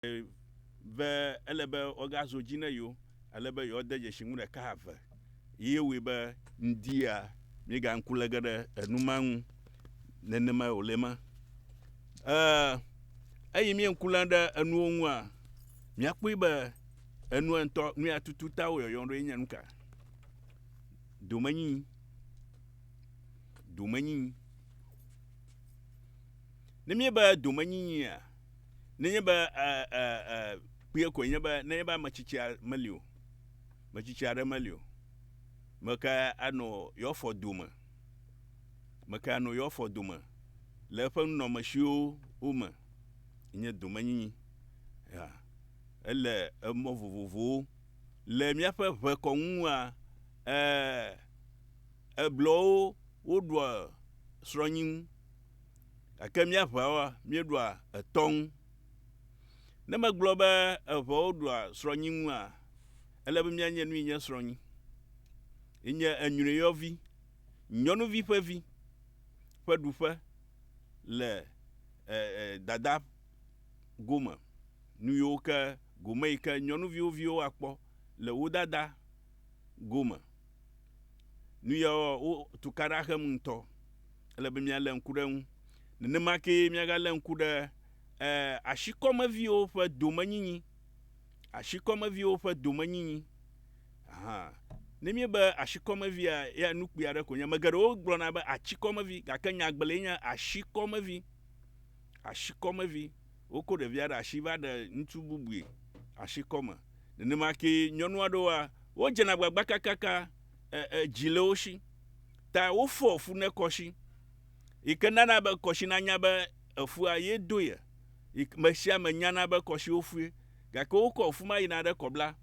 Ve, ele be woagazo dzi ne yewo, ele be yewoade dzesi nu ɖeka eve. Yee wɔe be ŋdia míega ŋku le ge ɖe enu ma ŋu nenemae wòle ema. E, eyi mie ŋku le ɖe enuwo ŋua, míakpɔe be enua ŋutɔ, nu ya tutu ta wo yɔyɔ ɖoe nye nuka? Domenyinyi. Domenyinyi. Ne míebe domenyinyia, nenye be e, e, e, kpuie koe nye be nenye be ame tsitsi meli o, ame tsitsi aɖe meli o, meke anɔ yewoafɔ dome, meke anɔ yewoafɔ dome le eƒe nunɔamesiwo me, nye domenyinyi. Ya, ele emɔ vovovowo le míaƒe ʋekɔŋua, e, eblɔwo woɖua srɔ̃nyinu Gake míaʋeawoa, míeɖua etɔ ŋu. Ne megblɔ be eʋewo ɖua srɔ̃nyi ŋua, ele be míanye nu yi nye srɔ̃nyi. Yenye enyrɔyɔvi, nyɔnuvi ƒe vi ƒe ɖuƒe le e, e, dada gome. Nu yiwo ke gome yi ke nyɔnuviwo viwo akpɔ le wo dada gome. Nu ya wo tukaɖa xem ŋutɔ. Ele be míalé ŋku ɖe eŋu. Nenema kee míagalé ŋku ɖe eh, ashikɔmeviwo ƒe domenyinyi. Ashikɔmeviwo ƒe domenyinyi. Aha. Ne míebe ashikɔmevia, ya nu kpui aɖe konye. Ame geɖewo gblɔna be atsikɔmevi, gake nyagblɔe nye ashikɔmevi. ashikɔmevi. Wokɔ ɖevia ɖe asi va ɖe ŋutsu bubui ashikɔme. Nenema kee nyɔnu aɖewoa, wodzena agbagba kakaka e dzi le wo si ta wofɔ fu ne kɔshi yi ke nana be kɔshi nanya be efua ye do ye. Me sia me nyana be kɔshiwo fui gake wokɔ fu ma yina ɖe kɔbla.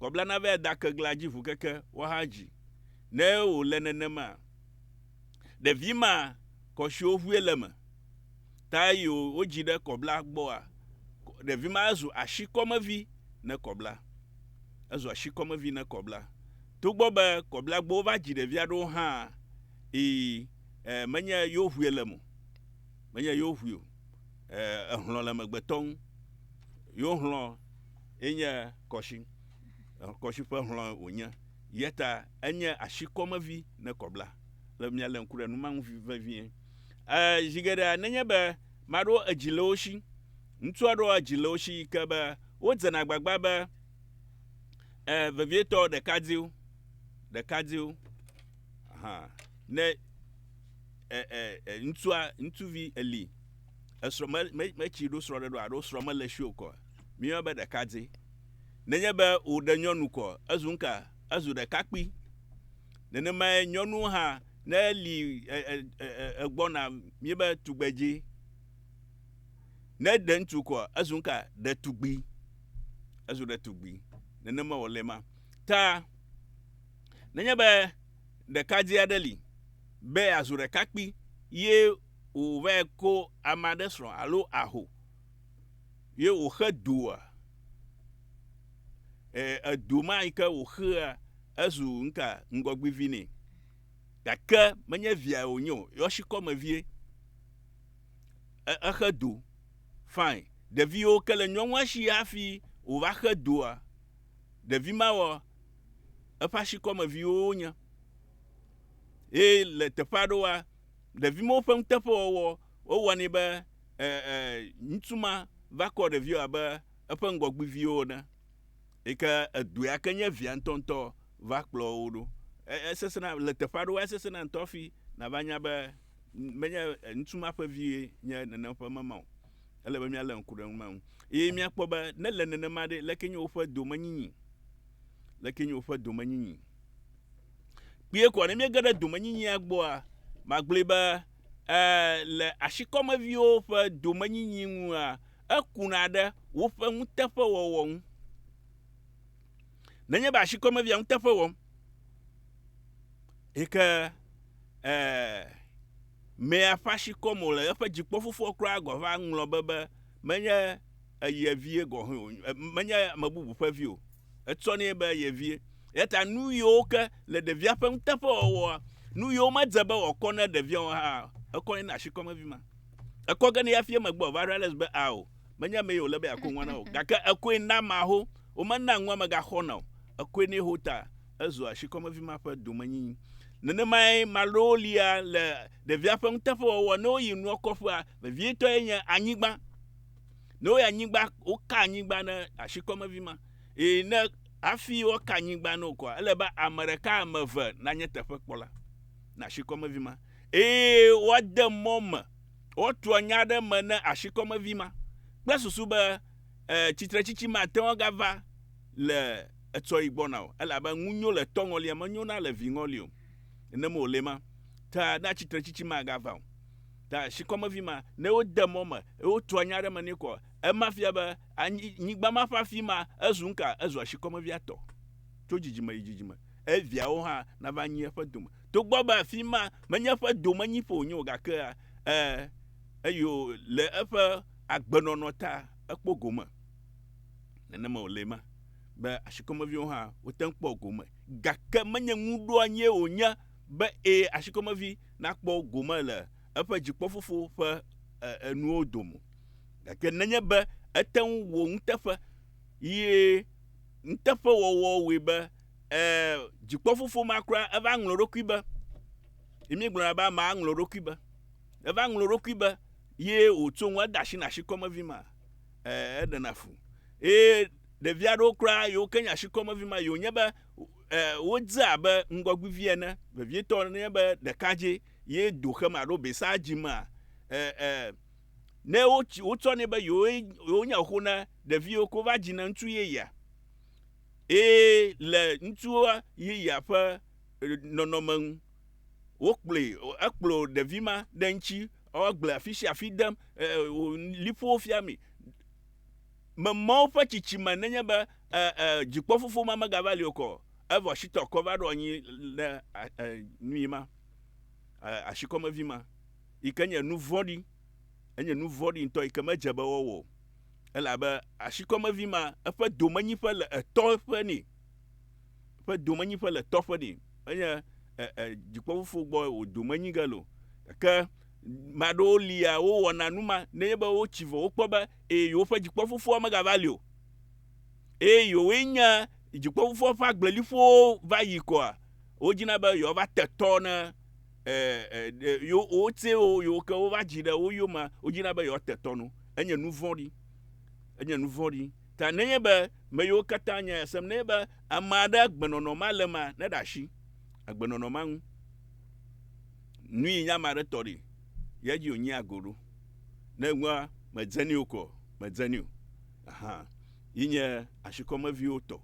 Kɔbla nava da keglea dzi ʋukeke woaha dzi. Ne wòle nenema. ɖevi ma kɔshiwo ʋue le me ta eyi wo dzi ɖe kɔbla gbɔa ɖevi ma ezu ashi kɔmevi ne kɔbla ezu ashi kɔmevi ne kɔbla to gbɔ be kɔbla gbɔwo va dzi ɖevia ɖewo hã yi e, menye yewo ʋue le mo menye yewo ʋui o e, ehlɔ le megbetɔ ŋu yewo hlɔ enye kɔshi kɔshi ƒe hlɔ wònye yeta Enye asi kɔmevi ne kɔ bla le mia le ŋku ɖe nu ma ŋu vevie. E, zi geɖe nenye be maɖo edzi le wo si, ŋutsu aɖo edzi le wo si yi ke be wodzena agbagba be e, vevietɔ ɖekadzɛwo, ɖekadzɛwo, aha, ne e, e, e, ŋutsua, ŋutsuvi eli, esrɔ̃ me, me, metsi ɖo srɔ̃ ɖe ɖo aɖo srɔ̃ mele si o kɔ, mi yɔ be ɖekadzɛ. Nenye be wòɖe nyɔnu kɔ, ezu ŋka Ezu ɖekakpui. Nenemae nyɔnuwo hã, ne eli egbɔna mí be tugbedzi, ne ɖe ŋutsu kɔ, ezu nuka? Ɖetugbui. Ezu ɖetugbui. Nenema wòle ma. Ta, nenye be ɖekadze aɖe li be yeazu ɖekakpui ye wòvae ko ame aɖe srɔ̃ alo aho, ye wòxe doa? E, edo ma yi ke wòxea ezu nuka ŋgɔgbivi nɛ. Gake menye via wònye o, yɔshikɔme vie. E, exe do. Fine. Ɖeviwo ke le nyɔnua shi hafi wòva xe doa? Ɖevi mawɔ eƒe ashikɔme viwo wonye. Ye le teƒe aɖewoa, ɖevi mawo ƒe nuteƒewɔwɔ wowɔnɛ be E, e, ŋutsu ma va kɔ ɖeviwo abe eƒe ŋgɔgbiviwo ene, yi ke edɔe ake nye via ŋutɔŋutɔ va kplɔ wo ɖo. E, esesẽna, le teƒe aɖewoa, esesẽna ŋutɔ hafi nàva nya be menye ŋutsu ma ƒe vie nye nenem ƒe mema o. Ele be míalé ŋku ɖe numa ŋu. Eye míakpɔ be ne le nenema ɖe, leke nye woƒe domenyinyi? Leke nye woƒe domenyinyi? Kpuie koa, ne míege ɖe domenyinyia gbɔa, magblɔe be e le ashikɔmeviwo ƒe domenyinyi ŋua, ekuna ɖe woƒe nuteƒewɔwɔ ŋu. Nenye be ashikɔmevia nuteƒe wɔm, yi ke e mea ƒe ashikɔme wòle, eƒe dzikpɔfofoa kura gɔ̃ va ŋlɔ be be Menye ye vie gɔ̃ hẽ o, menye ame bubu ƒe vi o, etsɔ nɛ be ye vie. Eya ta nuyiwo ke le ɖevia ƒe nuteƒewɔwɔa, nuyiwo medze be wòakɔ na ɖevia o hã, ekɔ nɛ na ashikɔme vi ma. Ekɔ ge nɛ hafi emegbe wòava realize be ao, menye amee wòle be yeakɔ nua na o, gake ekɔe na amea ho, womena nua megaxɔna o, ekɔe nɛ ho ta ezu ashikɔme vi ma ƒe domenyinyi. Nenemae maɖewo lia le ɖevia ƒe nuteƒewɔwɔa, ne woyi nua kɔƒea, Vevietɔe nye anyigba. Ne woyɔ anyigba, woka anyigba ne ashikɔmevi ma. Eye ne hafi woaka anyigba ne wò kɔa, ele be ame ɖeka, ame eve nanye teƒekpɔla na ashikɔmevi ma. Eye woade mɔ me, woatrɔ nya ɖe eme ne ashikɔmevi ma kple susu be, e, tsitretsitsi mate ŋu agava le etsɔɣi gbɔna o, elabe ŋu nyo le tɔ ŋɔlia, menyo na levi ŋɔli o. Nenem wòle ma. Ta na tsitretsitsi magava o. Ta shikɔmevi ma, ne wode mɔ me, eye wotua nya aɖe me nɛ koa, ema fia be anyi, nyigba ma ƒe afi ma, ezu nuka? Ezua shikɔmevia tɔ, tso dzidzime yi dzidzime. Eye viawo hã nava nyi eƒe dome. Togbɔ be afi ma menye eƒe domenyiƒe wònye o, gakea, e, eyo, le eƒe agbenɔnɔ ta, ekpɔ gome. Nenema wòle ema, be ashikɔmeviwo hã wote ŋu kpɔa gome, gake menye nuɖoanyie wònye. be ee, ashikɔmevi nakpɔ gome le eƒe dzikpɔfofo ƒe enuwo dome. Gake nenye be ete ŋu wɔ nuteƒe ye nuteƒewɔwɔ wɔe be ee, dzikpɔfofo ma kura eva ŋlɔ eɖokui be, ye míegblɔna be amea ŋlɔ eɖokui be, eva ŋlɔ eɖokui be ye wòtso ŋu ede asi na ashikɔmevi ma, ee, eɖena fu. Eye ɖevi aɖewo kura, yewo ke nye ashikɔmevi ma, ye wònye be e, wodze abe ŋgɔgbivi ene, vevietɔ ne nye be ɖekadzɛ ye do xem alo besa dzimea, e, e, ne wotsi, wotsɔnɛ be yewoe, yewonye xoxo na ɖeviwo ko va dzina ŋutsu yeyea. Eye le ŋutsu yeyea ƒe e, nɔnɔme ŋu, wokplɔe, ekplɔ ɖevi ma ɖe ŋuti, ewɔ gble afi sia afi dem, e, e, liƒowo fiamee. Memɔ woƒe tsitsi me nenye be e, e, dzikpɔ fofo ma megava li okɔ, evɔ shitɔ kɔ va ɖo anyi le e, nui ma, e, ashikɔmevi ma, yi ke nye nu vɔɖi, enye nu vɔɖi ŋutɔ yi ke medze be wɔwɔ o, elabe ashikɔmevi ma eƒe domenyiƒe le etɔ ƒe ni, eƒe domenyiƒe le etɔ ƒe ni, enye e, e, dzikpɔ fofo gbɔ wò domenyi ge lo, gake maɖewo lia wowɔna nu ma nenye be wotsi vɔ wokpɔ be eye yewoƒe dzikpɔfofoa megava li o, eye yewoe nye dzikpɔfofoa ƒe agbleliƒowo va yi koa, wodzina be yewoava te tɔ ne e, e, e, yewo, wotsɛ wo, yewo ke wova dzi ɖe wo yomea, wodzina be yewoate tɔ nu. Enye nu vɔ̃ɖi. Enye nu vɔ̃ɖi. Ta nenye be me yiwo katã nya ya sem, nenye be ame aɖe agbenɔnɔ ma le mea, neɖe asi agbenɔnɔ ma ŋu. Nui nye ame aɖe tɔ ɖi, ya dzi wònyia go ɖo. Ne ŋua medze nɛ o koa, medze nɛ o. Ahan. Yi nye ashikɔmeviwo tɔ.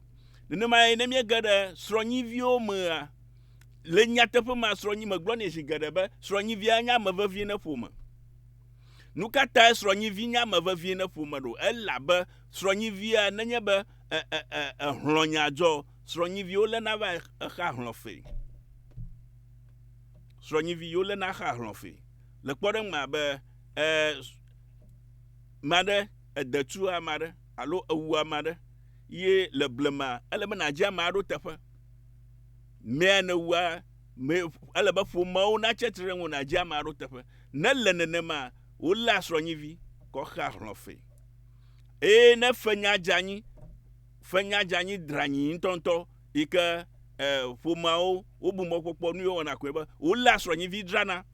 Nenemae ne míege ɖe srɔ̃nyiviwo mea, le nyateƒe mea, srɔ̃nyi, megblɔ nɛ zi geɖe be srɔ̃nyivia nye ame vevie ne ƒome. Nukatae srɔ̃nyivi nye ame vevie ne ƒome ɖo? Elabe srɔ̃nyivia, nenye be e, e, e, ehlɔ̃ nya dzɔ, srɔ̃nyiviwo lena va exea hlɔ̃ fee. Srɔ̃nyivi yewo lena xea hlɔ̃ fee. Le kpɔɖeŋu mea be e me aɖe ede tu ame aɖe alo ewu ame aɖe ye le blema ele be nàdzi amea ɖo teƒe. Mea nèwua me ele be ƒomeawo natsi atsitre ɖe ŋuwò nàdzi amea ɖo teƒe. Ne ele nenema woléa srɔ̃nyivi kɔ xea hlɔ̃ fee. Eye ne fenya dze anyi fenya dze anyi dranyi ŋutɔŋutɔ yi ke e ƒomeawo wobu mɔkpɔkpɔ nu yewo wɔna koe be woléa srɔ̃nyivi drana.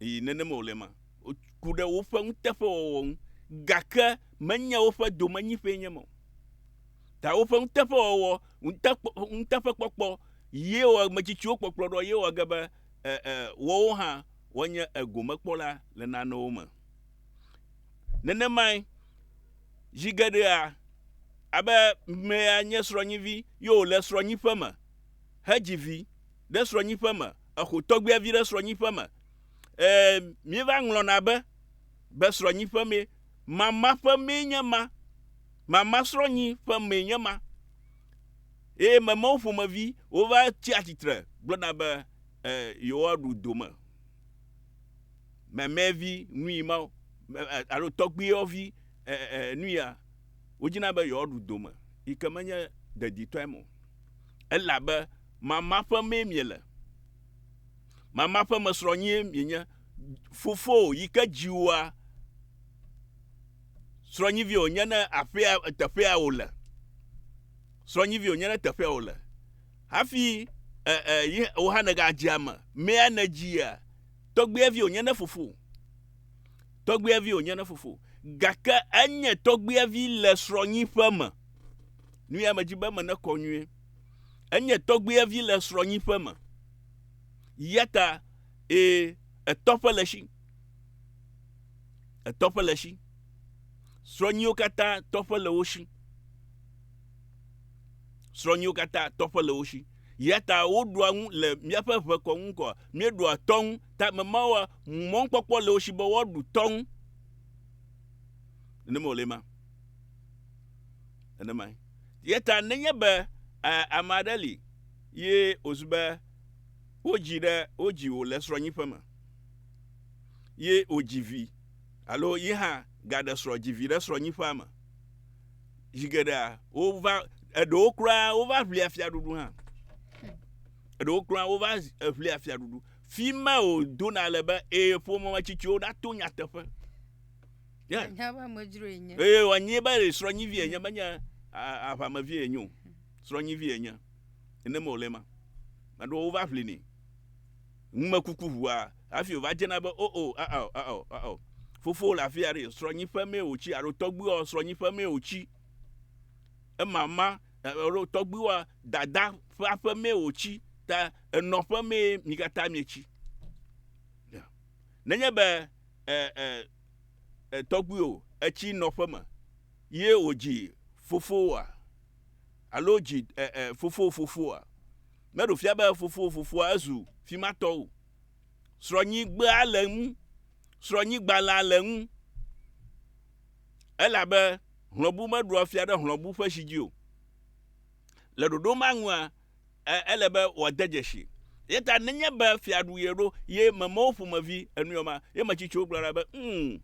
Yi nenema wòle ema. Woku ɖe woƒe nuteƒewɔwɔ ŋu, gake menye woƒe domenyiƒee nye ema o. Ta woƒe nuteƒewɔwɔ, nuteƒekpɔkpɔ ye wɔ ametsitsiwo kpɔkplɔ ɖo ye wɔ ge be e, e, woawo hã woanye egomekpɔla le nanewo me. Nenemae, zi geɖea, abe mea nye srɔ̃nyivi ye wòle srɔ̃nyiƒe me hedzi vi. ɖe srɔ̃nyiƒe me, exo tɔgbuia vi ɖe srɔ̃nyiƒe me. Ɛɛ, míeva ŋlɔna be, be srɔ̃nyiƒe mee. Mama ƒe mee nye ma. Mama srɔ̃nyi ƒe mee nye ma. Eye memewo ƒomevi wova tsia tsitre gblɔna be, ɛɛ, yewoaɖu dome. Memevi nui mawo, alo tɔgbuiavi nuya, wodzina be yewoaɖu dome, yi ke menye deditɔe me o. Elabe. Mama ƒe mee miele. Mama ƒe me srɔ̃ nyie mienye. Fofowò yi ke dzi wòa, srɔ̃nyivi wònye ne aƒea, teƒea wòle. Srɔ̃nyivi wònye ne teƒea wòle. Hafi e, e, yi wò hã nègadze ame. Mea nèdzia, tɔgbuivi wònye ne fofowò. Tɔgbuivi wònye ne fofowò. Gake enye tɔgbuivi le srɔ̃nyi ƒe me. Nu ya medzi be menekɔ nyuie. Enye tɔgbuivi le srɔ̃nyiƒe me. Yata ee, etɔƒe le esi. Etɔƒe le esi. Srɔ̃nyiwo katã tɔƒe le wo si. Srɔ̃nyiwo katã tɔƒe le wo si. Yata woɖua ŋu le míaƒe ʋekɔ ŋu kɔ. Míeɖua tɔ ŋu. Ta ame mawoa, mɔkpɔkpɔ le wo si be woaɖu tɔ ŋu. Nenema wòle ema. Nenemae. Ye ta nenye be e, ame aɖe li ye wòzu be wodzi ɖe wodzi wò le srɔ̃nyiƒe me ye wòdzi vi alo ye hã gaɖe srɔ̃ dzi vi ɖe srɔ̃nyiƒea me. Zi geɖea wova eɖewo kura wova ʋlia fiaɖuɖu hã. Eɖewo kura wova ʋlia fiaɖuɖu. Fi ma wòdona le be ee ƒomemetsitsiwo ɖato nyateƒe. Anya be amedzro enye. Ee, wòanyae be srɔ̃nyivi enye, menye aʋamevi enye o. Srɔ̃nyivi enye. Ene me wòle ma. Maɖewo wova ʋlinɛ. Numekuku ʋua, hafi wòva dzena be, o, o, a, ao, a, ao, a, ao. Fofo le afi aɖe, srɔ̃nyiƒe mee wòtsi, alo tɔgbuiwɔ, srɔ̃nyiƒe mee wòtsi. Emama, alo tɔgbuiwɔ, dada ƒe aƒe mee wòtsi. Ta enɔƒe mee mi katã mietsi. Nenye be, e, e, e tɔgbuiwò etsi nɔƒe me ye wòdzi fofowòa alo dzi e e fofowò fofoa. Meɖo fia be fofowò fofoa ezu fima tɔ o. Srɔ̃nyigbea le ŋu, srɔ̃nyigbalẽa le ŋu. Elabe hlɔ̃bu meɖoa fia ɖe hlɔ̃bu ƒe si dzi o. Le ɖoɖo ma nua, e, ele be wòade dzesi. Ye ta nenye be fiaɖu ye ɖo, ye memewo ƒomevi enuyɔ ma, ye metsitsiwo gblɔna be, mm,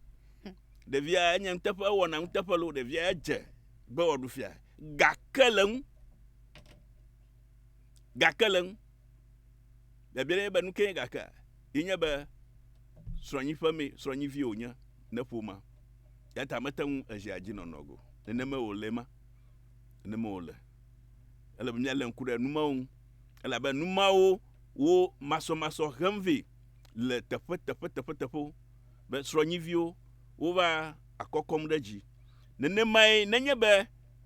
ɖevia enye nuteƒe, ewɔna nuteƒe loo, ɖevia edze be wòaɖu fia. Gake le ŋu. Gake le ŋu. Biabia nye be nu ke nye gakea? Ye nye be srɔ̃nyi ƒe mee, srɔ̃nyi vie wònye ne ƒomea. Ya ta mete ŋu ezia dzi nɔnɔ go. Nenema wòle ma. nenema wòle. Ele be míalé ŋku ɖe nu mawo ŋu, elabe nu mawo wo masɔmasɔ hem vɛ le teƒe teƒeteƒeteƒewo, be srɔ̃nyiviwo wova akɔkɔm ɖe dzi. Nenemae nenye be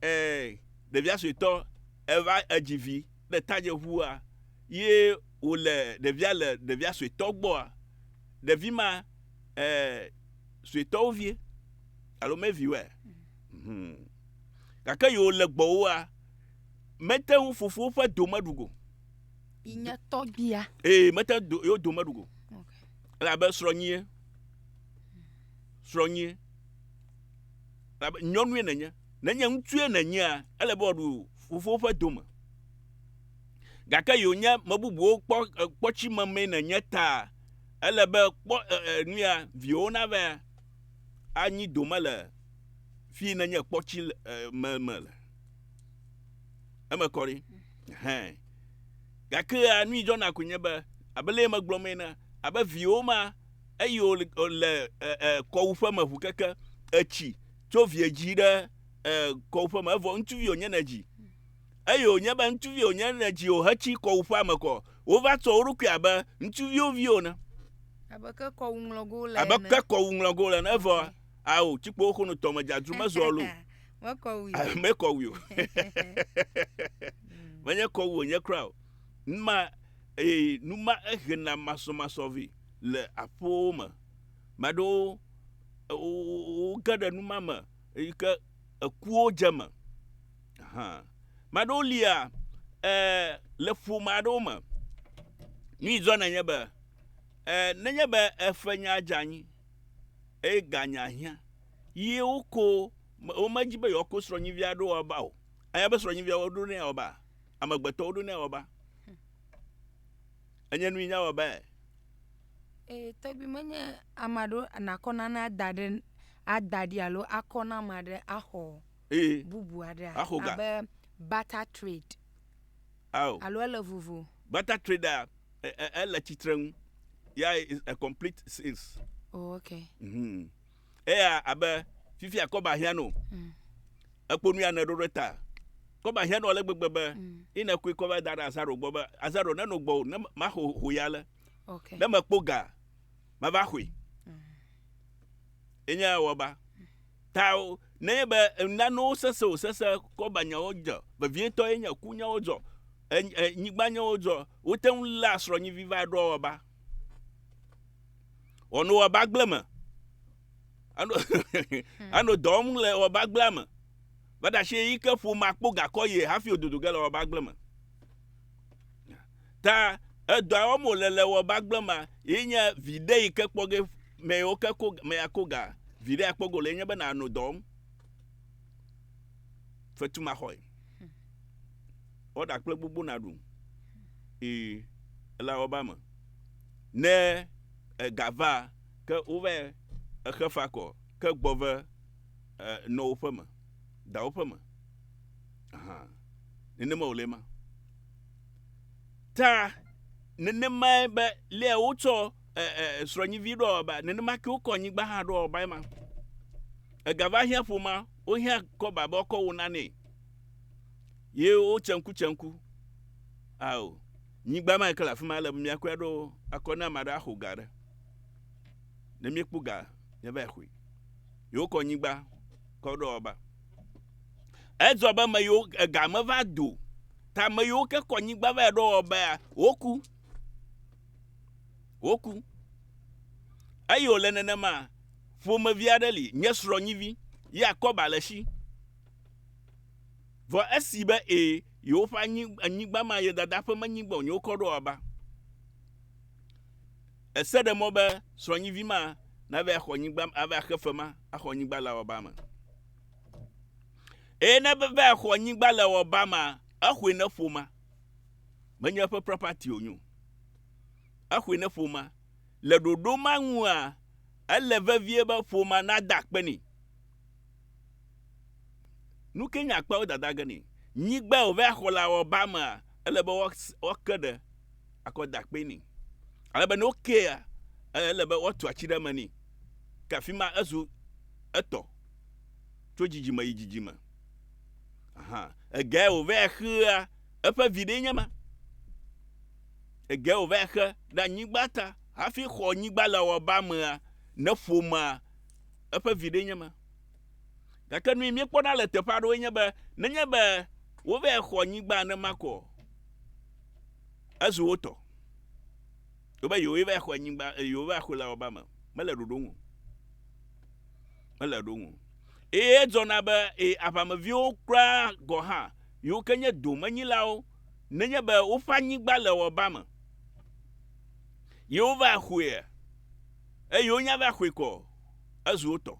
e, ɖevia suetɔ eva edzi vi ɖe tadzeʋua ye wòle ɖevia le ɖevia suetɔ gbɔa, ɖevi ma e, suetɔwo vie. alo meviwɔe hmm. gake yewo le gbɔwoa mete ŋu fofowo ƒe do meɖu go yi nye tɔgbia ee mete do yewo do meɖu go elabe srɔ̃nyie srɔ̃nyie elabe nyɔnue nenye nenye ŋutsue nenyea ele be wòaɖu fofowo ƒe do me gake yewo nye me bubuwo kpɔ kpɔtsi memee nenye ta ele be kpɔ nu ya viwo nava anyi dome le fi nenye kpɔtsi le me me le eme kɔ ɖi hɛn gake anu yi dzɔna ko nye be abe le megblɔ mee na abe viwo ma eyi wo le kɔwu ƒe me ʋu keke etsi tso vie dzi ɖe kɔwu ƒe me evɔ ŋutsuvi wonye ne dzi eye wònye be ŋutsuvi wònye ɖe dziwò hetsi kɔ wu ƒea me kɔ, wova tsɔ wo ɖokui abe ŋutsuviwo viwo ene. Abe ke kɔwu ŋlɔgo le Abe ene. ke kɔwu ŋlɔgo le ene. Evɔ, ao, tsikpowo xono tɔme dzadzu mezɔ lo. Mekɔ wui o. Mekɔ wui o. Menye kɔwu wònye kura o. Nu ma, e, nu ma ehena masɔmasɔvi le aƒewo me. Mea ɖewo, e, wo, wo, woge ɖe nu ma me. eyi ke ekuwo dze eme. Hã. Ame aɖewo lia e le ƒome aɖewo me. Nu yi dzɔna nye be e nenye be eƒe nya dze anyi eye ganya hiã ye woko womedzi be yewoako srɔ̃nyivi aɖe woaba o. Anya be srɔ̃nyivia woɖo nɛ woaba. Amegbetɔ woɖo nɛ woaba. Enye nu yi nya wɔbae. Ee tɔgbi menye ame aɖewo nàkɔ nane ada ɖe ada ɖi alo akɔ na ame aɖe axɔ ee bubu aɖea axɔ ga abe barter trade ao alo ele vovo. Barter trade a e, e, ele tsitre ŋu ya is a complete sales. Oh, okay. Mhm. Eya abe fifia kɔba hiã no. Mm. Ekpɔ nu ya ne ɖo ɖe ta. Kɔba hiã no ale gbegbe be mm. ina koe kɔba da ɖe azaro gbɔ be azaro ne no gbɔ ne maxɔ ho ya le. Okay. Ne mekpɔ ga, mava xɔe. Enye ya wɔba. Ta o- nenye be nanewo sese o sese kɔba nyawo dze vevietɔ ye nye ku nyawo dzɔ, en- en- nyigba nyawo dzɔ, wote ŋu léa srɔ̃nyivi va ɖoa wɔba. Wɔnu wɔba gble me. Ano ano dɔ wɔm le wɔba gblea me. Vaɖashi yi ke ƒomea kpo gakɔ ye hafi wòdodo ge le wɔba gble me. Ta edɔa wɔm wòle le wɔ bagble ma yi nye viɖe yi ke kpɔ ge me yewo ke ko me akó ga viɖe akpɔ go le nye be nàno dɔ wɔm. Fetu ma xɔe. Ɔɖa kple gbogbo naɖu. I ela wɔ ba me. Ne ega va ke wova exe fa kɔ ke gbɔ ve e nɔ woƒe me da woƒe me. Ahan. Nenema wòle ma. ta nenemae be lé wotsɔ srɔ̃nyivi ɖɔ ba nenema ke wokɔ nyigba hã ɖɔ ba ema egava hiã ƒoma wohiã kɔba be ɔkɔ wo nanɛ ye wo tsenku tsenku ao nyigba ma ke le afi ma le be miakɔe ɖo akɔ ne ame aɖe axo ga ɖe ne miekpɔ ga miava xoe ye wokɔ nyigba kɔ ɖɔ ba Edzɔ be ame yiwo ega meva do ta ame yiwo ke kɔ nyigba va yi ɖo wɔbea, woku. Woku. Eye wòle nenema, ƒomevi aɖe li, nye srɔ̃nyivi, ya kɔba le esi. Vɔ esi be ẽ, yewoƒe anyigba ma ye dada ƒe menyigba wònye wokɔ ɖo wɔba. Ese ɖe mɔ be srɔ̃nyivi ma nava axɔ nyigba, ava axe fe ma, axɔ nyigba le awɔba me. Eye ne va axɔ nyigba le awɔba ma, exɔe ne ƒo ma. Menye eƒe property o nyo. Exɔe ne ƒo ma. Le ɖoɖo ma ŋua, ele vevie be ƒo ma nada akpe nɛ. Nu ke nye akpeawo dada ge ni. Nyigba wòva ya xɔ le awɔba mea, ele be woake ɖe akɔ da kpe nɛ. Ale be ne wokea, ele be woatu ati ɖe eme nɛ. Ke afi ma ezu etɔ tso dzidzime yi dzidzime. Aha, ege ya wòva ya xea, eƒe vi ɖee nye ma. Ege ya wòva ya xe ɖe anyigba ta hafi xɔ nyigba le awɔba mea, ne ƒomea, eƒe viɖee nye ma. Gake nui míekpɔna le teƒe aɖewoe nye be nenye be wova xɔ nyigba nenema ko o, ezu wo tɔ. Wobe yewoe va xɔ nyigba, eh, yewoe va xɔe le awɔba me. Mele ɖoɖo ŋu. Mele ɖoɖo ŋu. Eye edzɔna be e, aʋameviwo kura gɔ̃ hã, yiwo ke nye domenyilawo, nenye be woƒe anyigba le awɔba me, yewova xɔea, eye wonya be axɔe kɔ ezu wo tɔ.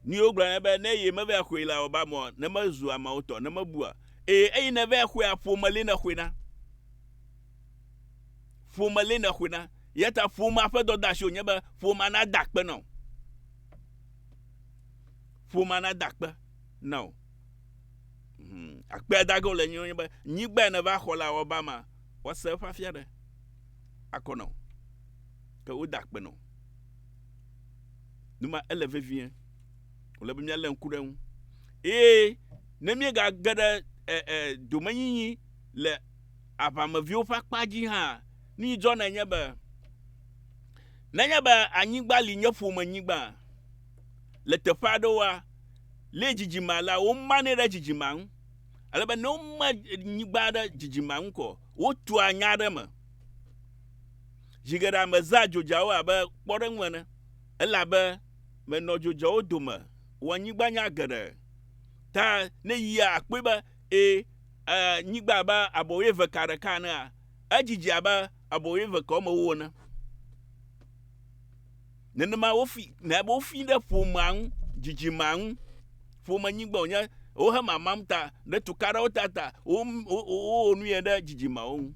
Ni wogblɔ ne be ne ye meve axɔe la wɔba mɔ ne mezu ameawo tɔ ne mebua eye eyi ne ve axɔe aƒome le ne xɔe na ƒome le ne xɔe na yata ƒomea ƒe dɔdasi wonye be ƒomea na da akpe na o ƒomea na da akpe na o. Hmm. Akpe adage wole nye be nyigba ne va xɔ la wɔba ma Woase eƒe afia ɖe akɔ na wò, ke woda akpe na wò. Nu ma ele vevie. Wòle be míalé ŋku ɖe eŋu. Eye ne míegage ɖe e, e, domenyinyi le aʋameviwo ƒe akpa dzi hã, nu yi dzɔna nye be, nenye be anyigba li nye ƒome nyigba, le teƒe aɖewoa, lé dzidzime alea, womanɛ ɖe dzidzimea ŋu. Ele be ne woma nyigba aɖe dzidzima ŋu kɔ, wotua nya aɖe me. Zi geɖe ame zã dzodzawo abe kpɔɖeŋu ene, elabe menɔ dzodzawo dome wɔ nyigba nya geɖe. Ta ne yia akpɔe be e, e, nyigba abe abɔ wuieve ka ɖeka enea, edzidzi abe abɔ wuieve ka womewo ene. Nenema wofi, na be wofi ɖe ƒomea ŋu, dzidzimea ŋu, ƒome nyigbe wònye, wohe mamam ta, ɖe tuka ɖewo ta ta, wowɔ nu yɛ ɖe dzidzimeawo ŋu.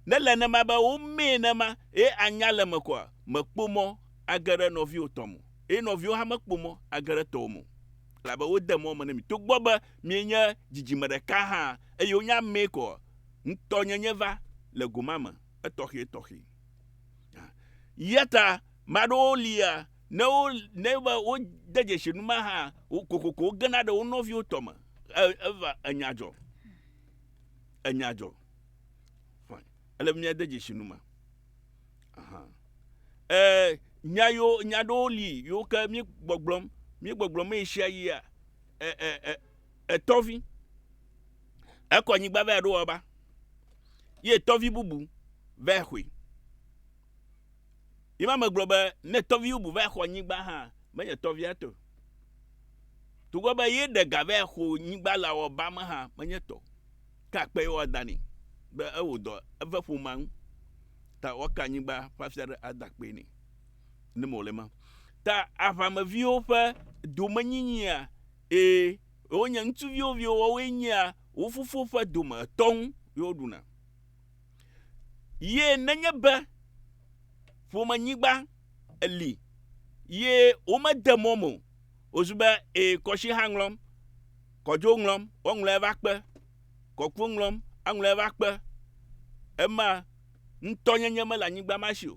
Ne le nema be womee nema, ye anya le me kɔa, mèkpɔ mɔ age ɖe nɔviwò tɔ me o, ye nɔviwò hã mekpɔ mɔ age ɖe tɔwò me o, elabe wode mɔ me ne mi. Togbɔ be mienye dzidzime ɖeka hã, eye wonye amee kɔa, ŋutɔnyenye va le gomame etɔxɛtɔxɛ. Yata maɖewo lia ne wo ne be wode dzesi nu ma hã kokoko wogena ɖe wo nɔviwo tɔ me eva enya dzɔ enya dzɔ ele mia de dzesi nu ma ɛɛ nya yo nya ɖewo li yiwo ke mi gbɔgblɔm mi gbɔgblɔm eyi sia yia ɛɛ ɛɛ ɛtɔvi. E, e, e, Ekɔ nyigba vɛ ɖo ɔba, ye tɔvi bubu vɛ xɔe. Yi ma megblɔ be ne tɔvi bubu vɛ xɔ nyigba hã, menye tɔvia tɔ. Togbɔ be ye ɖe ga vɛ xɔ nyigba le ɔba me hã, menye tɔ. Ke akpe ye woada nɛ be ewɔ dɔ eve ƒomea ŋu ta woaka nyigba ƒe afia ɖe ada akpee nɛ. Ne mewɔ le ema ta aʋameviwo ƒe domenyinyiea? Ee. Yewo nye ŋutsuviwo viwo woawoe nyea wo fofo ƒe dome etɔ ŋu ye woɖuna. Ye nenye be ƒomenyigba li ye womede mɔ me o, wozu be ee kɔsiha ŋlɔm, kɔdzo ŋlɔm, woaŋlɔe va kpe, kɔkpo ŋlɔm, aŋlɔe va kpe. Ema ŋutɔnyenye mele anyigba ma si o.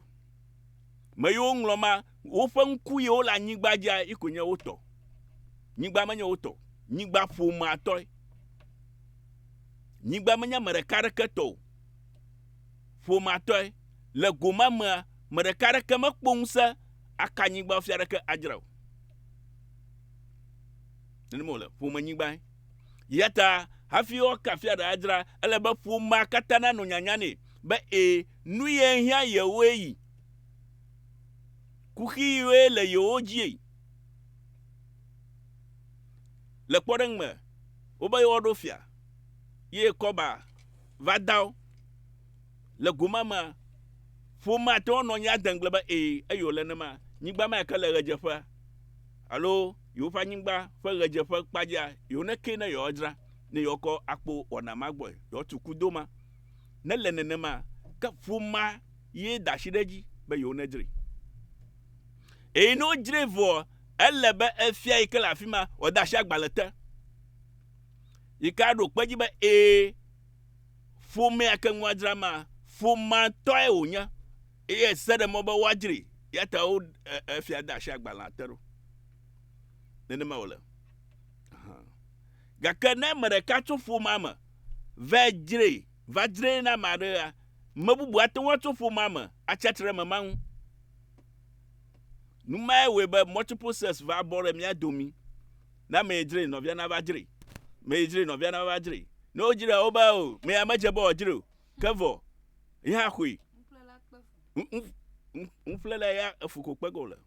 Me yewo ŋlɔ ma Woƒe ŋku ye wole anyigba dzia yi koe nye wo tɔ. Nyigba menye wo tɔ. Nyigba ƒomea tɔe. Nyigba menye ame ɖeka aɖeke tɔ o. Ƒomea tɔe. Le go ma mea, ame ɖeka aɖeke mekpɔ ŋusẽ aka nyigba fia aɖeke adzra o. Nenema wòle. Ƒome nyigbae. Eya ta hafi woaka fia aɖe adzra, ele be ƒomea katã nanɔ nyanya nɛ be, ẽ, nu ye hiã yewoe yi. Kuxi ɣie le yewo dzie. Le kpɔɖeŋ me, wobe yewoaɖo fia ye kɔba va da wo. Le go ma mea, ƒomea ate ŋu anɔ anyi ade ŋugble be ee, eye wòle nenema. Nyigba ma yike le ɣedzeƒea alo yewoƒe anyigba ƒe ɣedzeƒe kpadzia, yewonekee ne yewoadzra ne yewoakɔ akpo wɔna ma gbɔe, yewoatu kudo ma. Ne le nenema, ke ƒomea ye da asi ɖe edzi be yewo nedzre. Eye ne wodzre vɔ, ele be efia yi ke le afi ma wòada asi agbalẽ te. Yi ke aɖo kpe dzi be ee, ƒomea ke ŋua dzra ma, ƒomea tɔe wònye eye ese ɖe mɔ be woadzre ya ta wo efia da asi agbalẽa te ɖo. Nenema wòle. Gake ne ame ɖeka tso ƒomea me va dzre va dzree na ame aɖea, ame bubu ate ŋu atso ƒomea me atsi atsitre ɖe ame ma ŋu. Nu mae wɔe be multiple sex va bɔ ɖe mía domi. Ne ame yi dzre nɔvia nava dzre, ame yi dzre nɔvia nava dzre. Ne wodzrea wo be o, ame ya medze be wòadzre o, ke vɔ yi hã xɔe. Nuƒlela kpe fu. Nuƒlela ya efu ko kpe ge wòle.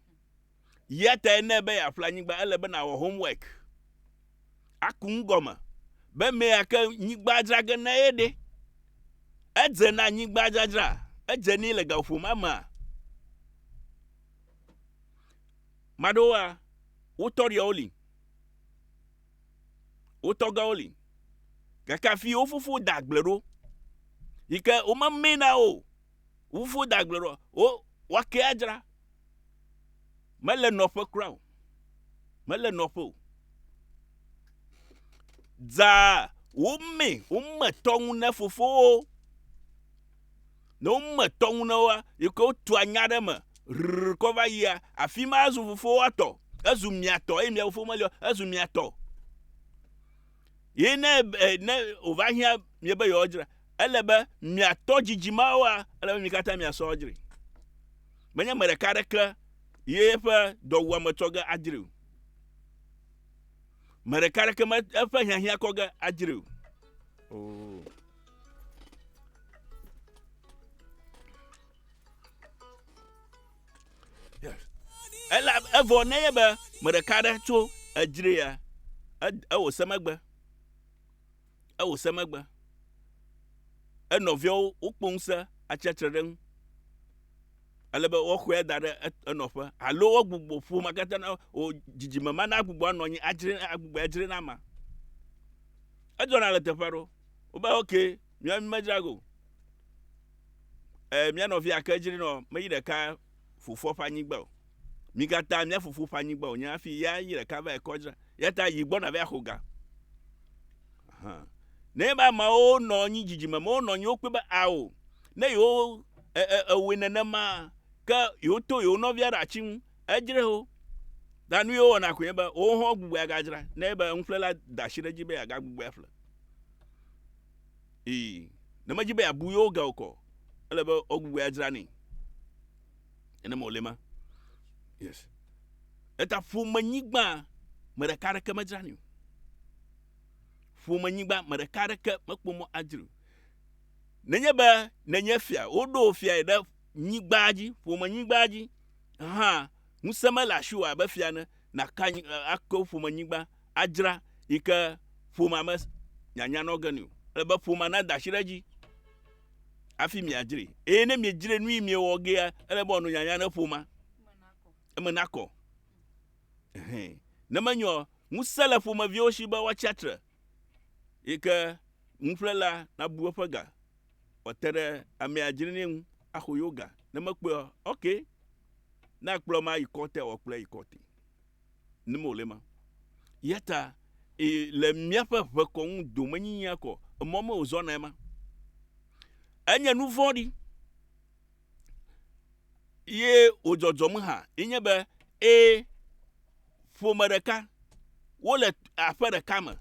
Eya tae ne be yeaƒle anyigba, ele be nàwɔ homework, aku nu gɔme be mea ke nyigba dzra ge na ye ɖe. Edze na nyigba dzadzra, edze nɛ le gaƒoƒo ma mea. Maɖewoa, wotɔ ɖiawo li, wotɔ gawo li, gake afi wo fofo da agble ɖo yi ke womemee na wo o. wofo da agble ɖo wo woake adzra mele nɔƒe kura o mele nɔƒe o dza wome wome tɔŋu ne fofowo ne wome tɔŋu ne woa yi ke wotu anya ɖe me rrr kɔ va yia afi ma zu fofowoa tɔ ezu mia tɔ eye mia fofo meli o ezu mia tɔ Ye ne e, ne wòva hiã miebe yewoadzra, ele be miatɔ dzidzi mawoa, ele be mi katã miasɔ adzri. Menye ame ɖeka aɖeke ye eƒe dɔwuame tsɔ ge adzri o. Me ɖeka aɖeke me eƒe hiahiã kɔ ge adzri o. Oh. Ela evɔ ne ye be me ɖeka ɖe tso edzre ya ewɔ se megbe. Ewɔ se megbe. Enɔviawo wokpɔ ŋusẽ atsiatre ɖe ŋu. Ale be woxɔe da ɖe enɔƒe alo wogbugbɔ ƒome katã na wo dzidzime ma na agbugbɔ anɔ anyi adzre agbugbɔ adzre na ma. Edzɔna le teƒe aɖewo. Wobe okay Mía mi me dzra go. E, mía nɔvia ke dzri nɔ me yi ɖeka fofoa ƒe anyigba o. Mi gata mía fofo ƒe anyigba o nye afi ya yi ɖeka va ekɔ dzra. Ya ta yi gbɔ na va xo ga. Ahan. Ne ye ba ma wo nɔ nyi dzidzime me wo nɔ nyi wo kpe ba a o. Ne yo e e e we nene ma ke yo to yo nɔvia ɖa tsi ŋu e dzre ho. Da nu yo wɔna ko ye ba wo hɔn gbugbe aga dzra ne ye ba ŋuƒle la da shi ɖe dzi be aga gbugbe afle. Ii, ne medzi be yeabu yewo ge o kɔ, ele be wogbugbɔe adzra nɛ. Nenema wòle ma. Yes. Eta ƒomenyigba, me ɖeka aɖeke medzra nɛ o. Ƒomenyigba, me ɖeka aɖeke mekpɔ mɔ adzrae o. Nenye be nènye fia, woɖo wò fiae ɖe nyigba dzi, ƒomenyigba dzi hã, ŋusẽ mele asiwò abe fia ene, nàka anyi, ake wò ƒomenyigba adzra yi ke ƒomea me nyanya nɔ ge nɛ o. Ele be ƒomea nada asi ɖe edzi hafi miadzrae. Eye ne miedzrae nu yi miewɔ gea, ele be wòanɔ nyanya ne ƒomea. Eme nakɔ. Ɛhɛɛ. Ne menye o, ŋusẽ le ƒomeviwo si be woatsi atre yi ke nuƒlela nabu eƒe ga wòate ɖe amea dzrenɛ ŋu axɔ yewo ga. Ne mekpɔe o, okay, ne akplɔe ma ayi kɔti, wòakplɔe ayi kɔti. nim wòle ma. Ya ta e, le míaƒe ʋekɔŋu domenyinyia kɔ, emɔ me wòzɔnae ma. Enye nu vɔ̃ɖi ye wòdzɔdzɔm hã ye nye be e, ƒome ɖeka wole aƒe ɖeka me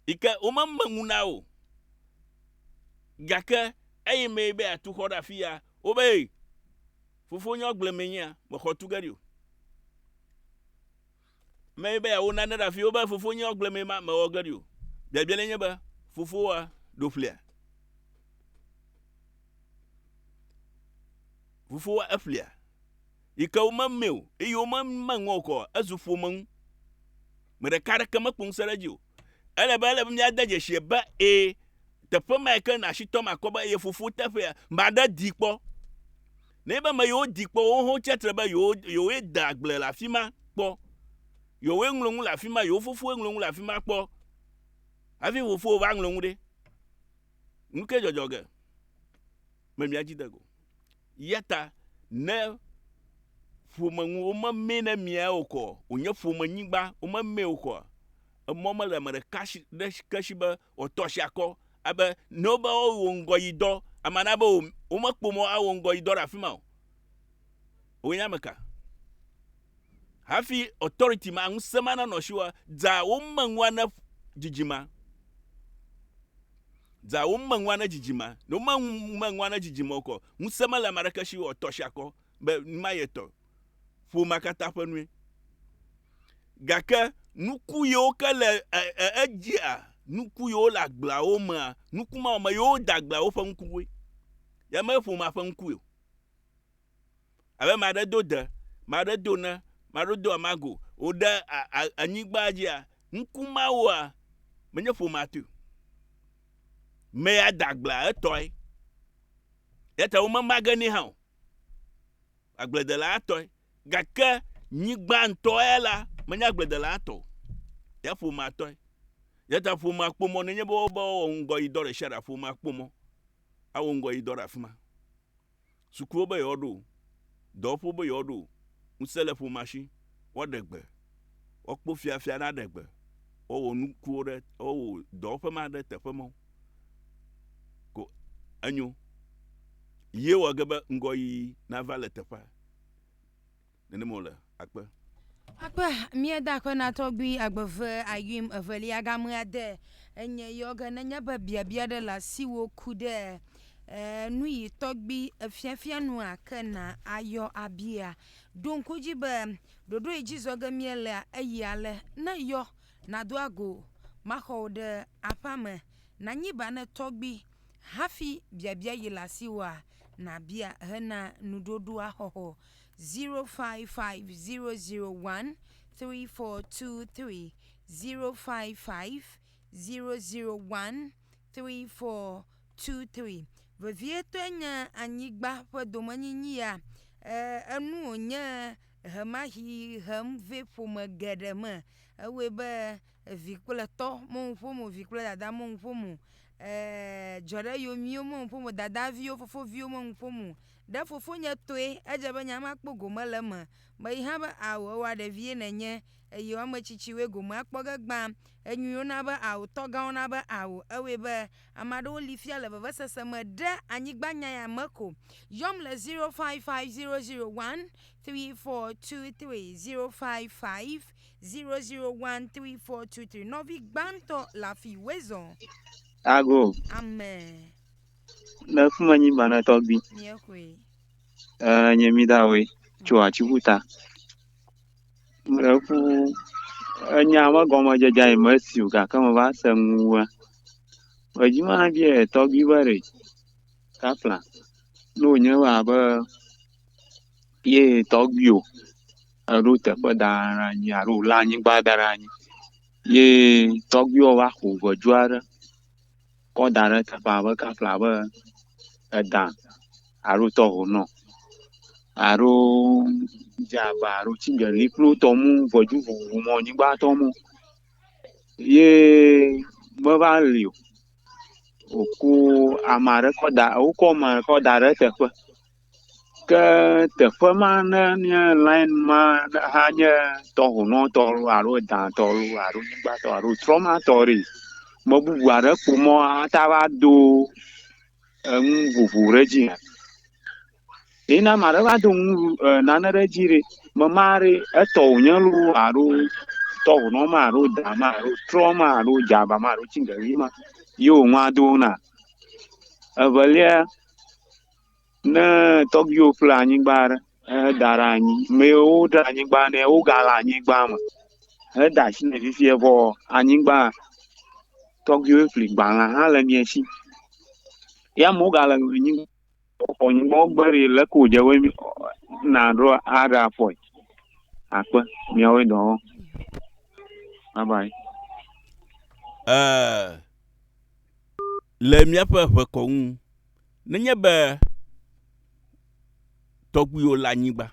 yi ke womeme ŋu na o gake eyi mee be atu xɔ ɖe afi ya wobe Fofo nye ɔgble me nyea mexɔ tu ge ɖi o. Me be ya wo nane ɖe afi wo be fofo nye ɔgble me ma mewɔ ge ɖi o. Biabia le nye be fofo wa ɖo ƒlia. Fofo wa eƒlia. Yi ke wo me me o eye wo me me ŋɔ kɔ ezu ƒome ŋu. Me ɖeka ɖe ke me kpɔn se ɖe dzi o. Ele be, ele be míade dzesi be, ẽ, teƒe mae ke nasitɔ makɔ be ye fofo teƒea. Ame aɖe dii kpɔ. Nenye be ame yiwo dii kpɔ wo hã wotsi atsitre be yewo, yewoe de agble le afi ma kpɔ. Yewoe ŋlɔ nu le afi ma, yewo fofowoe ŋlɔ nu le afi ma kpɔ. Hafi fofowò va ŋlɔ nu ɖe, nu kae dzɔdzɔ ge? Me mía dzi de go. Eya ta ne ƒome ŋu womemee ne mia o kɔ wònye ƒomenyigba womemee o kɔa, emɔ mele ame ɖeka si ɖe ke si be wòatɔ asi akɔ abe ne wobe woawɔ ŋgɔ yi dɔ ame aɖe abe womekpɔ mɔ awɔ ŋgɔ yi dɔ ɖe afi ma o. Wònye ame ka? Hafi authority ma, ŋusẽ ma nanɔ asiwò dza wome ŋua ne dzidzima. Dza wome ŋua ne dzidzima. Ne wome ŋua ne dzidzima okɔ, ŋusẽ mele ame aɖeke si wɔ tɔ sia kɔ be numa ye tɔ. Ƒomea katã ƒe nue. Gake nuku yewo ke le edzia, nuku yewo le agbleawo mea, nuku ma me yewo da agbleawo ƒe ŋukuwoe. Ye me ƒomea ƒe ŋuku ye o. Abe ame aɖe do de, ame aɖe do ne, ame aɖe do amago, wòɖe anyigba dzia, ŋku mawoa, menye ƒomea tɔe. Mea da agblea etɔe. Yata womema ge nɛ hã o. Agbledela tɔe. Gake nyigba ŋutɔ ya la, menye agbledela tɔ o. Ya ƒomea tɔe. Yata ƒomea kpɔ mɔ nenye be woawɔ ŋgɔyidɔ ɖe sia ɖe, ƒomea kpɔ mɔ awɔ ŋgɔyidɔ ɖe afi ma. Sukuwo be yewoaɖo o, dɔwɔƒewo be yewoaɖo o, ŋusẽ le ƒomea si, woaɖe gbe, woakpɔ fiafia aɖe aɖe gbe, woawɔ nukuwo ɖe, woawɔ dɔwɔƒe ma ɖe teƒe ma ko enyo. Ye wɔ ge be ŋgɔyiyi nava le teƒea. Nenem wòle. Akpe. Akpe. Mía da akpe na tɔgbui agbeve ayuim evelia game ade enye yɔ ge nenye be biabia ɖe le asiwò ku ɖe eh, nu yi tɔgbui efiafia nua ke na ayɔ abia. Ɖo ŋku dzi be ɖoɖo yi dzi zɔ ge mía lea eyi ale, ne yɔ nado ago maxɔ wò ɖe aƒea me nanyi ba ne tɔgbui hafi biabia yi le asiwòa nabia hena nuɖoɖoa xɔxɔ. zero five five zero zero one three four two three zero five five zero zero one three four two three vevietɔe nye anyigba ƒe domenyinyi ya e enu wònye ʋemaxi hem vɛ ƒome geɖe me ewɔe be evi kple etɔ me ŋu ƒom o vi kple dada me ŋu ƒom o e dzɔ ɖe yomiwo me ŋu ƒom o dadaviwo fofoviwo me ŋu ƒom o. Ɖe fofonye tɔe edze be nya ma kpɔ gome le eme? Meyi hã be, Ao, ewa ɖevie nènye, eye wo ame tsitsiwoe gome akpɔ ge gbã. Enyui wona be ao, tɔgã wona be ao. Ewɔe be, ame aɖewo li fia le vevesese me ɖe anyigba nya ya me ko. Yɔm le zero five five zero zero one three four two three, zero five five zero zero one three four two three. Nɔvi gbãtɔ le afi wezɔ. Ago. Amen. Le fi ma nyi bana tɔgbi. Nye koe. Eh, nye mi da we tso atsiƒu ta. Le ƒu enya me gɔmedzedze yi me si o gake me va se ŋua. Edzi ma bi e tɔgbi be re. Kafla. No nye wa be ye tɔgbi o. Eɖo teƒe da ra nyi alo la anyigba da ra nyi. Ye tɔgbi o va xo vedu aɖe. kɔ da ɖe teƒea abe kafla abe edã alo tɔho nɔ alo dze abe alo tigeli kple wo tɔ mu ŋɔdzi vovovo mɔ nyigba tɔ mu ye meva li o woko ame aɖe kɔ da wokɔ ame aɖe kɔ da ɖe eteƒe. Ke teƒe ma ne nye lin ma ne hã nye tɔŋunɔ tɔ loo alo edã tɔ loo alo nyigba tɔ alo trɔma tɔ ɖe yi me bubu aɖe ƒo mɔ ate ŋu ado enu vovo ɖe edzi hã. Ye ne ame aɖe va do nu vu e nane ɖe edzi ɖe me ma ɖe etɔ wonye loo alo tɔŋunɔ ma alo dã ma alo trɔ ma alo dzaŋa ma alo tsiɖeɖi ma ye wonua do na. Evelia. Ne tɔgbuiwo ƒle anyigba ɖe heda ɖe anyi, ame yiwo woɖe anyigba na wo gale anyigba me heda asi nɛ fifia vɔ anyigba tɔgbuiwo ƒli gbalẽ hã le mia si. Ye amewo gale anyi xɔ anyigba gbe ɖi le eke wodze be naɖo aɖe afɔe akpe miawo dɔ wɔm. Bye bye. Eh. le míaƒe ʋekɔ ŋu. Nenye be tɔgbuiwò le anyigba,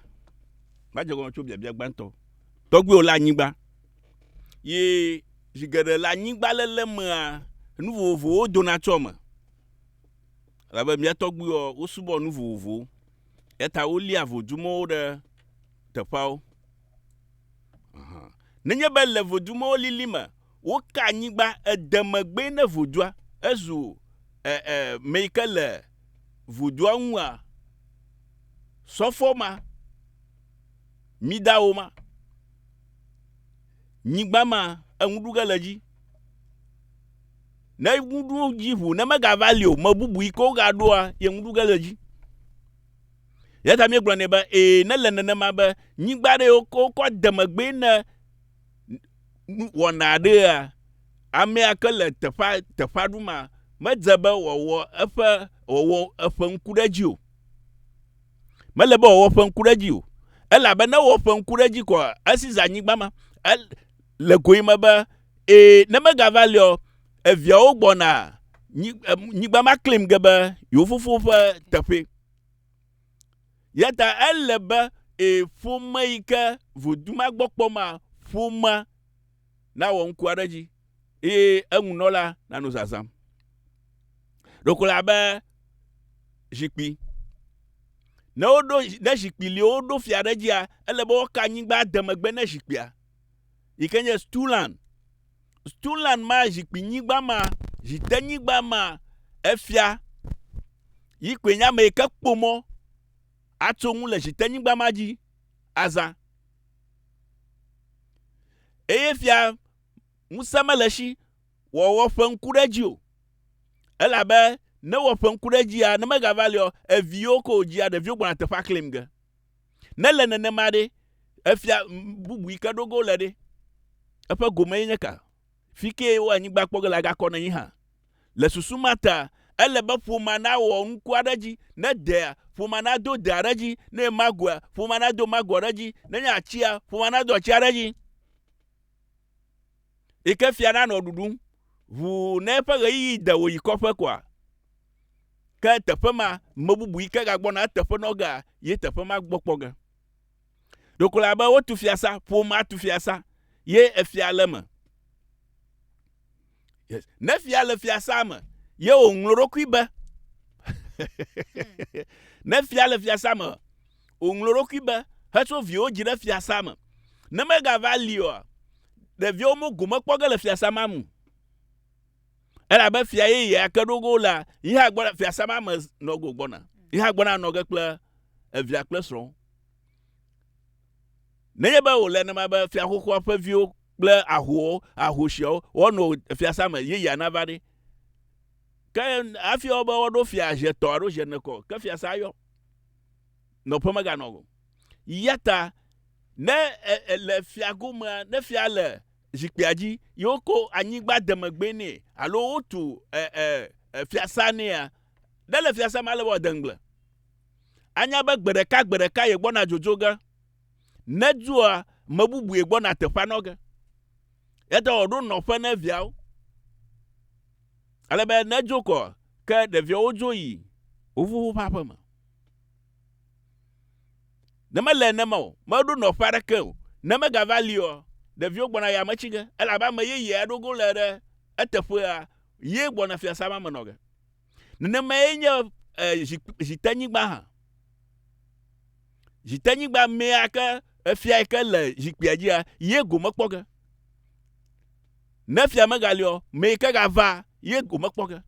va dze gɔme tso biabia gbãtɔ. Tɔgbuiwò le anyigba. Ye zi geɖe le anyigba lele mea, nu vovovowo dona tso eme. Elabe mía tɔgbuiwɔ wosubɔ nu vovovowo. Eya ta wolia vodumɔwo ɖe teƒeawo. Nenye be le vodumɔwo lili me woka anyigba ede megbee ne vodua ezu e, e, me yi ke le vodua ŋua, sɔfɔ ma, midawo ma, nyigba ma, eŋuɖuge le dzi. Ne ŋuɖu dzi ʋu, ne megava li o, me bubu yi ke wogaɖoa, ye ŋuɖuge le dzi. Eya ta míegblɔ nɛ be, ee, nele nenema be nyigba aɖe yi wokɔ wokɔ de megbee ne nu wɔna aɖea, amea ke le teƒea teƒea ɖum a, medze be wòawɔ eƒe wòawɔ eƒe ŋku ɖe edzi o. Mele be wòawɔ eƒe ŋku ɖe edzi o. Elabe ne wɔ eƒe ŋku ɖe edzi koa, esi zã nyigba ma. El, le goyime be, ee, ne megava liɔ, eviawo gbɔna nyi, nyigba ma klim ge be yewo fofo ƒe teƒe. Yata ele be e, ƒome yi ke vodu ma gbɔ kpɔ ma, ƒomea nawɔ ŋkua ɖe edzi eye eŋunɔla nanɔ zazãm. Ɖeko le abe zikpui. Ne woɖo ne zikpui li woɖo fia ɖe edzia, ele be woka anyigba de megbe ne zikpuia. yi ke nye Stulan. Stulan ma zikpuinyigba ma, zitenyigba ma, efia yi koe nye ame yi ke kpɔ mɔ atso ŋu le zitenyigba ma dzi azã. Eye fia ŋusẽ mele si wòawɔ ƒe ŋku ɖe edzi o. Elabe ne wɔ ƒe ŋku ɖe edzia, ne megava liɔ, eviwo ko wòdzia, ɖeviwo gbɔna teƒea klim ge. Ne le nenema ɖe, efia bubu yi ke ɖo ge wole ɖe? Eƒe gome ye nye ka? Fi kee wo anyigba kpɔ ge la gakɔ na yi hã. Le susu ma ta, ele be ƒomea nawɔ nuku aɖe dzi. Ne dea, ƒomea nado de aɖe dzi. Ne nye magoea, ƒomea nado mago aɖe dzi. Ne nye atsia, ƒomea nado atsi aɖe dzi. yi ke fia nanɔ ɖuɖum ʋuu ne eƒe ɣeyiɣi de wòyi kɔƒe koa? Ke teƒe ma, me bubu yi ke gagbɔna eteƒe nɔ gea, ye teƒe ma gbɔ kpɔ ge. Ɖeko le abe wotu fiasa, ƒomea tu fiasa ye efia le eme. Yes. Ne fia le fiasa me ye wòŋlɔ ɖokui be. ne fia le fiasa me O ŋlo ɖokui be, hetso viwò dzi ɖe fiasã me, ne megava li oa, ɖeviawo mo gome kpɔ ge le fiasã ma me o. Elabe fia yeyea ke ɖo go la yi hã gbɔna, fiasã ma me nɔ go gbɔna, yi hã gbɔna nɔ ge kple evia kple srɔ̃. Nenye be wòle nenema be fia xoxoa ƒe viwo kple ahowo, ahosiawo, woanɔ fiasã me yeyea nava ɖe, ke hafi woabe woaɖo fia ʒetɔ alo ʒenekɔ, ke fiasã ayɔ. nɔƒe meganɔ o. Yata ne le fiagomea, ne fia le zikpuia dzi, ye wokɔ anyigba demegbee nɛ alo wotu fiasa nɛa, ne le fiasa me ale be wòade ŋugble. Anya be gbe ɖeka gbe ɖeka ye gbɔna dzodzo ge. Ne dzɔa, me bubu ye gbɔna teƒea nɔ ge. Yata wòɖo nɔƒe ne viawo. Ale be ne dzo kɔ, Ke ɖeviawo dzo yi wo fofo ƒe aƒe me. Ne mele nenema o, meɖo nɔƒe aɖeke o. Ne megava liɔ, ɖeviwo gbɔna yi ame tsi ge, elabe ame yeye aɖe go le ɖe eteƒea ye gbɔna fiasã ma me nɔ ge. Nenemae nye zitenyigba hã. Zitenyigba mea ke efia yi ke le zikpuia dzia, ye gome kpɔ ge. Ne fia megali ɔ, me yi ke gava ye womekpɔ ge.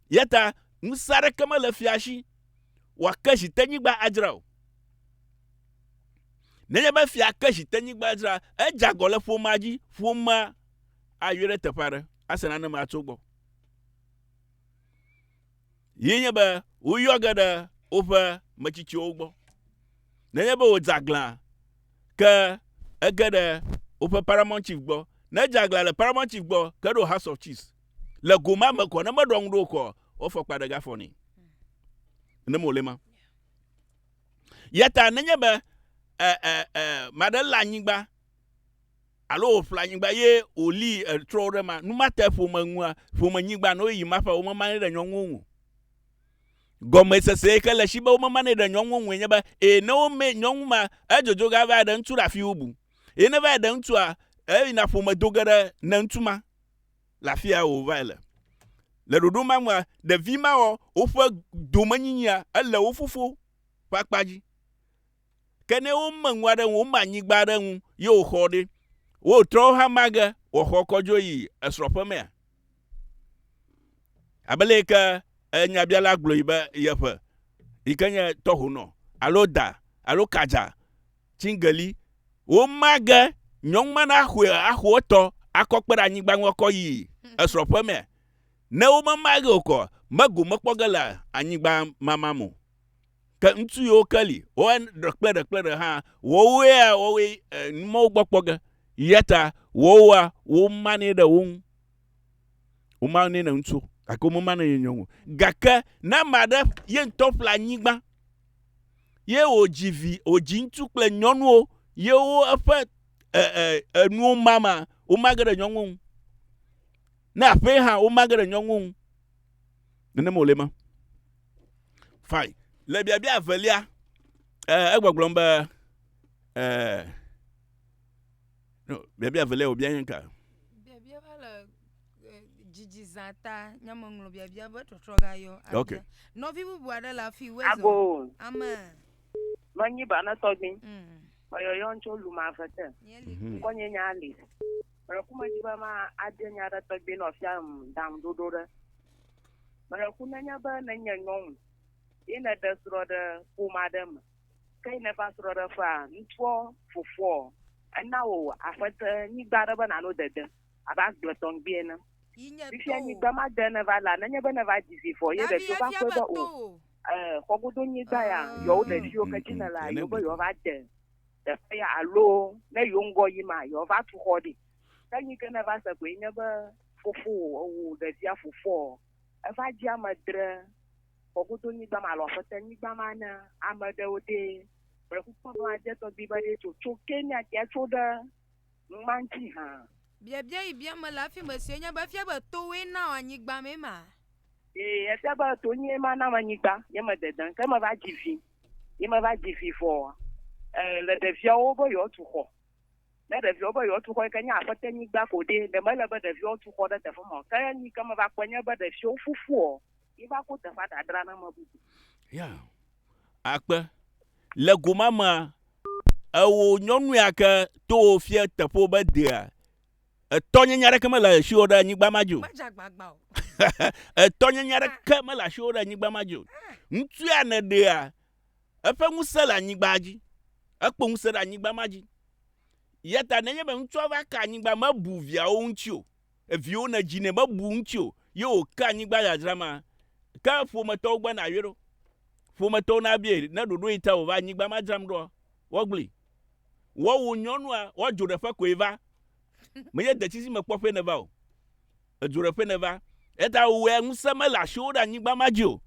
Ya ta ŋusẽ aɖeke mele fia si wòake zitenyigba adzra o. Nenye be fia ke zitenyigba adzra, edze agɔ le ƒomea dzi, ƒomea ayɔe ɖe teƒe aɖe ase nane ma tso egbɔ. Ye nye be woyɔ ge ɖe woƒe metsitsiwo gbɔ. Nenye be wòdze aglã ke ege ɖe woƒe Paramount Chief gbɔ, ne edze aglã le Paramount Chief gbɔ ke ɖo House of Chiefs, le go ma me kɔ, ne meɖɔ ŋu ɖe wo kɔ, woafɔ kpa ɖe ga fɔ nɛ. Ne mewòle ma. Yata nenye be, e, e, e, maɖe lé anyigba alo wòƒle anyigba ye wòlii etrɔ wo ɖe ma, nu ma te ƒome ŋua, ƒome nyigba nɔ ɣeyiɣi ma ƒe womemanɛ ɖe nyɔnuwo ŋu o. Gɔmesese yi ke le esi be womemanɛ ɖe nyɔnuwo ŋue nye be, ee, ne womee nyɔnu ma, edzodzo ge ava ɖe ŋutsu ɖe afi bubu. Ye ne va yi ɖe ŋutsua, eyina ƒome do ge ɖe ne ŋutsu ma le afi ya wòvae le. Le ɖoɖo ma nua, ɖevi mawo, woƒe domenyinyia, ele wo fofo ƒe akpa dzi. Ke ne wome ŋu aɖe ŋu, wome anyigba aɖe ŋu ye wòxɔ ɖe, wotrɔ wo hama ge wòxɔ kɔ dzo yi esrɔ̃ ƒe mea? Abe le yi ke nyabiala gblɔ yi be yeƒe yi ke nye tɔhonɔ alo da alo kadza tsingeli woma ge nyɔnu ma naxɔe axɔ etɔ akɔ kpe ɖe anyigba ŋu akɔ yi esrɔ̃ ƒe mea? Ne womema ge okɔ, megomekpɔ ge le anyigba mama mo. Ke ŋutsu yiwo ke li, woae ɖe kple ɖe kple ɖe hã, woawoea woawoe eh, numɔwo gbɔ kpɔ ge. Yata woawoa, womanɛ ɖe wo ŋu. Womanɛ ɖe ŋutsu, gake womemanɛ ɖe nyɔnu. Gake ne ame aɖe ye ŋutɔ ƒle anyigba, ye wòdzi vi, wòdzi ŋutsu kple nyɔnuwo, ye wo eƒe eh, eh, enuwo mama, womage ɖe nyɔnuwo ŋu. Ne aƒee hã, womage ɖe nyɔnuwo ŋu. Nenem wòle ema. Fine. Le biabia evelia, eh, egbɔgblɔm be, eh, no, biabia evelia wòbia nye ka? Biabia va le eh, dzidzi zã ta, nye meŋlɔ biabia be trɔtrɔ gayɔ. Okay. Nɔvi bubu aɖe le afi wezɔ. Ago. Amen. Menyi ba ne tɔgbin. Mm. Meyɔyɔ tso lumavete. Nye li. Kɔnye nya li. Mele ku me dzi be ma adze nya ɖe tɔgbe nɔ fia ŋ dam ɖoɖo ɖe. Mele ku ne nye be ne nye nyɔnu ye ne ɖe srɔ ɖe ƒoma ɖe me. Ke yi ne va srɔ ɖe ƒea, ŋtsuɔ fofoɔ ena wo afete nyigba ɖe be nano dede abe agble tɔŋgbi ene. Fifia nyigba ma de ne va la ne nye be ne va dzi vi vɔ ye ɖe fio va kpɔe be o, e, xɔgodo nyigba ya yɔ wo ɖe fio ke dzi ne la yo be yɔ va de. teƒe ya alo ne yewo ŋgɔ yim a, yewoava tu xɔ ɖi. Ke nu yi ke nèva se koe nye be fofowò, ewò ɖevia fofoa, eva dzi ame dre Kɔkudonyigba ma alo Aƒetɛnyigba ma na ame ɖewo ɖe. Mele kpɔkpɔ be madze tɔgbi be ɖe tso tso Kenya kea tso ɖe ŋma ŋuti hã. Biabia yi biam mele hafi me sue nye be, efia be towòe na wò anyigba mee ma? Ee, efia be tonyee ma na wò anyigba. Nye medede, ke meva dzi vi. ye meva dzi vi vɔ le ɖeviawo be yewoatu xɔ. Ne ɖeviawo be yewoatu xɔ yi ke nye aƒete nyigba ko ɖi ɖe mele be ɖeviawo tu xɔ ɖe teƒe ma o. Ke nu yi ke meva kpɔe nye be ɖeviwo fofoɔ ye va ko teƒea dadra na ame bubu. Ya. Akpe. Le gomamea, eo nyɔnu ya ke to wo fie teƒewo be dea Etɔnyenye aɖeke mele asiwò ɖe anyigba ma dzi o. Etɔnyenye aɖeke mele asiwò ɖe anyigba ma dzi o. Ŋutsu ya nèɖea, eƒe ŋusẽ le anyigba dzi. Ekpɔ ŋusẽ ɖe anyigba ma dzi. Ya ta nenye be ŋutsua va ka anyigba, mebu viawo ŋuti o. Eviwo nedzi nɛ, mebu ŋuti o. Ye wòka anyigba dzadzra ma. Ke ƒometɔwo gbe na yɔe ɖo. Ƒometɔwo nabie ne ɖoɖo yi ta wòva anyigba ma dzram ɖoa, woagblẽe. Woawu nyɔnua, woadzo ɖe ƒe koe va. Menye detsizi me kpɔ ƒe neva o. Edzo ɖe ƒe neva. Eta wowɔe ŋusẽ mele asiwo ɖe anyigba ma dzi o.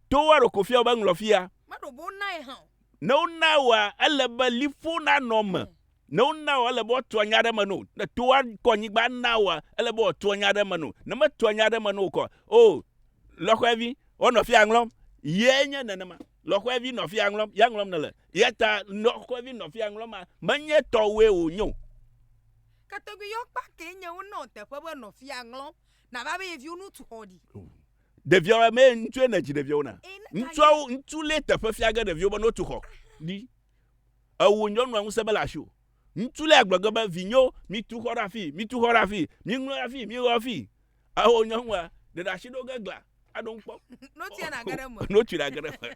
To woaɖo ko fia wobe ŋlɔ fia. Meɖo bo nae hã o. Ne wona woa, ele be liƒo nanɔ me. Ne wona woa, ele be woato anya ɖe eme no. Ne to woa kɔ anyigba na woa, ele be wòato anya ɖe eme no. Ne meto anya ɖe eme no o kɔ, o, lɔxɔɛvi, wonɔ fia ŋlɔm. Ye nye nenema. Lɔ̃xoevi nɔ afia ŋlɔm, ya ŋlɔm nèle. Eya ta lɔ̃xoevi nɔ afia ŋlɔm ma, menye tɔwòe wònye o. Ke tɔgbi yewo kpa kee nye wonɔ teƒe be nɔ afia ŋlɔm, nava be yeviwo nu tu xɔ ɖi. Ɖeviawo, ame ŋutsue nèdzi ɖeviawo na? Ŋutsuawo, ŋutsu lee teƒe fia ge ɖeviwo be notu xɔ ɖi. Ewò nyɔnua ŋusẽ mele asiwò. Ŋutsu lee agblɔ ge be, Vinyewo, mitu xɔ ɖe afii, mitu xɔ ɖe afii, miŋlɔ ɖe afii, miwɔ afii. Ao nyɔnua, ɖe ɖe asi ɖo ge gla, aɖo ŋu kpɔ. Notsia nage ɖe eme. Notsi nage ɖe eme.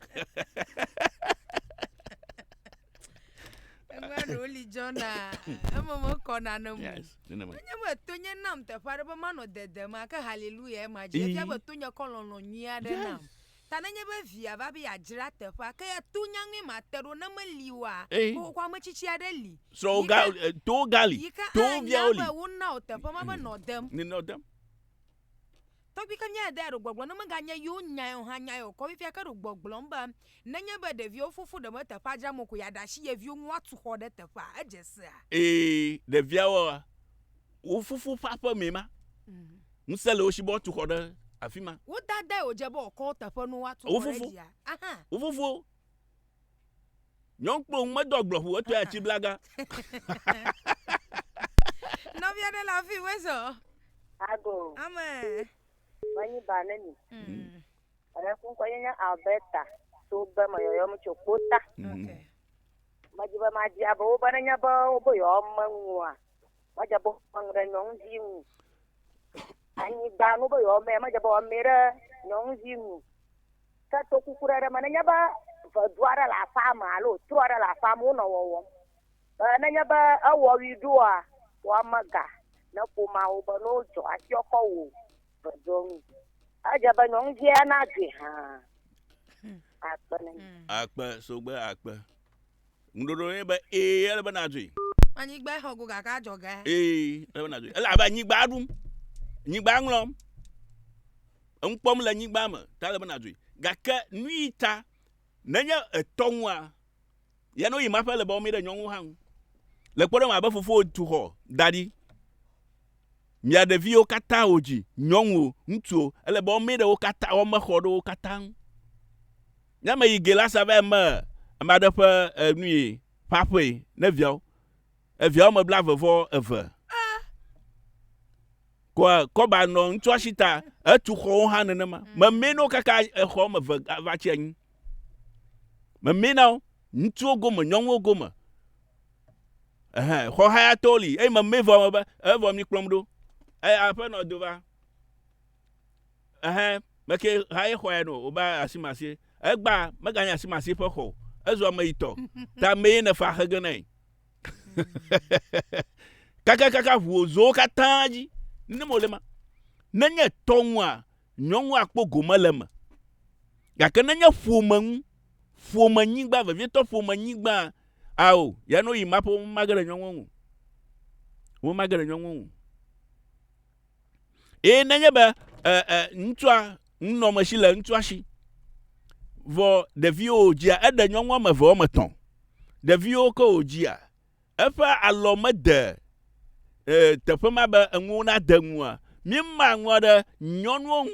Eŋua ɖewo li dzɔna, eme mekɔ nane mo. Yes, nenema. Enye be tonye nam teƒe aɖe be manɔ dede ma, ke haleluya ema dzi. Efia be tonye kɔ lɔlɔ̃ nyui aɖe nam. Yes. Ta nenye be via va be yeadzra teƒea, ke to nya ŋue mate ɖo, ne meli oa, Ey. ko xoxoa me tsitsi aɖe li. Srɔ̃wò Yi ga, ke- eh, towò ga li, Yi ke towò anya viawo li. be wona wò teƒe ma be nɔ dem. Ni nɔ dem. Tɔgbi ke mía dea ɖo gbɔgblɔ ne meganye yewo nyae o hã nyae o kɔ fifia ke ɖo gbɔgblɔm be nenye be ɖeviwo fofo ɖe me teƒea dzram o ko yeaɖe asi ye viwo ŋu woatu xɔ ɖe teƒea. Edze sea? Ee, ɖeviawoa, Wò fofo ƒe aƒe mee ma. Mm. Ŋusẽ le wo si be woatu xɔ ɖe afi ma. Wo dadae wòdze be wòkɔ teƒe nu woatu xɔ ɖe dzia. Wo fofo. Nyɔnu kple wo medɔ gblɔ ƒo etɔe atsi blaga. Nɔvi aɖe le afi wo ezɔ. Ago. Ame. Wani ba ne mi. Mm. Ame kun kɔ nye Alberta to be me yɔyɔm tso kpota. Mm. Okay. Medi be madi abe wo be ne nye be wo be yɔyɔm menua. Madze bɔ ŋu ɖe nyɔnuvi ŋu. Anyigba nu be yewoame, madze bɔ ame ɖe nyɔnuvi ŋu. Ke to kuku ɖe ɖe me, nenye be vedu aɖe le aƒea me alo tro aɖe le aƒea me wonɔ wɔwɔm. Be nenye be ewɔ ʋi ɖoa, woame ga ne ƒomea wo be ne wodzɔ afiɔ kɔ wò veduɔ ŋu. Edze be nyɔnuvia nadzoe hã. Akpe ne. Akpe sogbe akpe. Ŋuɖoɖo ye be ee ele be nadzɔe. Anyigba xɔ go gake adzɔge. Ee ele be nadzɔe. Ele abe anyigba ɖum. Nyigba ŋlɔm. Enu kpɔm le nyigba me ta ele be nadzɔe. Gake nu yi ta nenye etɔ ŋua ya no yi ma ƒe le be wɔmi ɖe nyɔnu hã ŋu. Le kpɔɖeŋu abe fofo tu xɔ da ɖi. Mia ɖeviwo katã wo dzi nyɔnuwo ŋutsuwo ele be wɔmi ɖe wo katã wɔme xɔ ɖewo katã ŋu. Ne me yi Gelasa va eme ame aɖe ƒe e, nui ƒe aƒee ne viawo eviawo me blave vɔ eve kɔa kɔba nɔ ŋutsua si ta etu xɔwo hã nenema mm. memee no kaka exɔ me eve va tsi anyi memee na wo ŋutsuwo gome nyɔnuwo gome ehe xɔ hayatɔwo li eye memee vɔ me be evɔ mi kplɔm ɖo eye aƒenɔ do va Ɛhɛ̃, meke haye xɔe no wòbe asimasie. Egbã meganye asimasie ƒe xɔ o. Ezu ameyitɔ. Ta mee nèfa axe ge nae. Kakakaka ʋu wò zowo katã dzi. Nenema wòle ema. Nenye tɔ ŋua, nyɔnu akpɔ gome le eme. Gake nenye ƒome ŋu, ƒomenyigba, vevietɔ ƒomenyigba, ao, ya ne woyi ema ƒe, womage ɖe nyɔnua ŋu o. Womage ɖe nyɔnua ŋu o. Eye nenye be e, e, ŋutsua nunɔmesi le ŋutsua si, vɔ ɖeviwo wòdzia, eɖe nyɔnu wɔme eve wɔme etɔ̃, ɖeviwo ke wòdzia, eƒe alɔ mede e, teƒe ma be enuwo nade ŋua, míema ŋua ɖe nyɔnuwo ŋu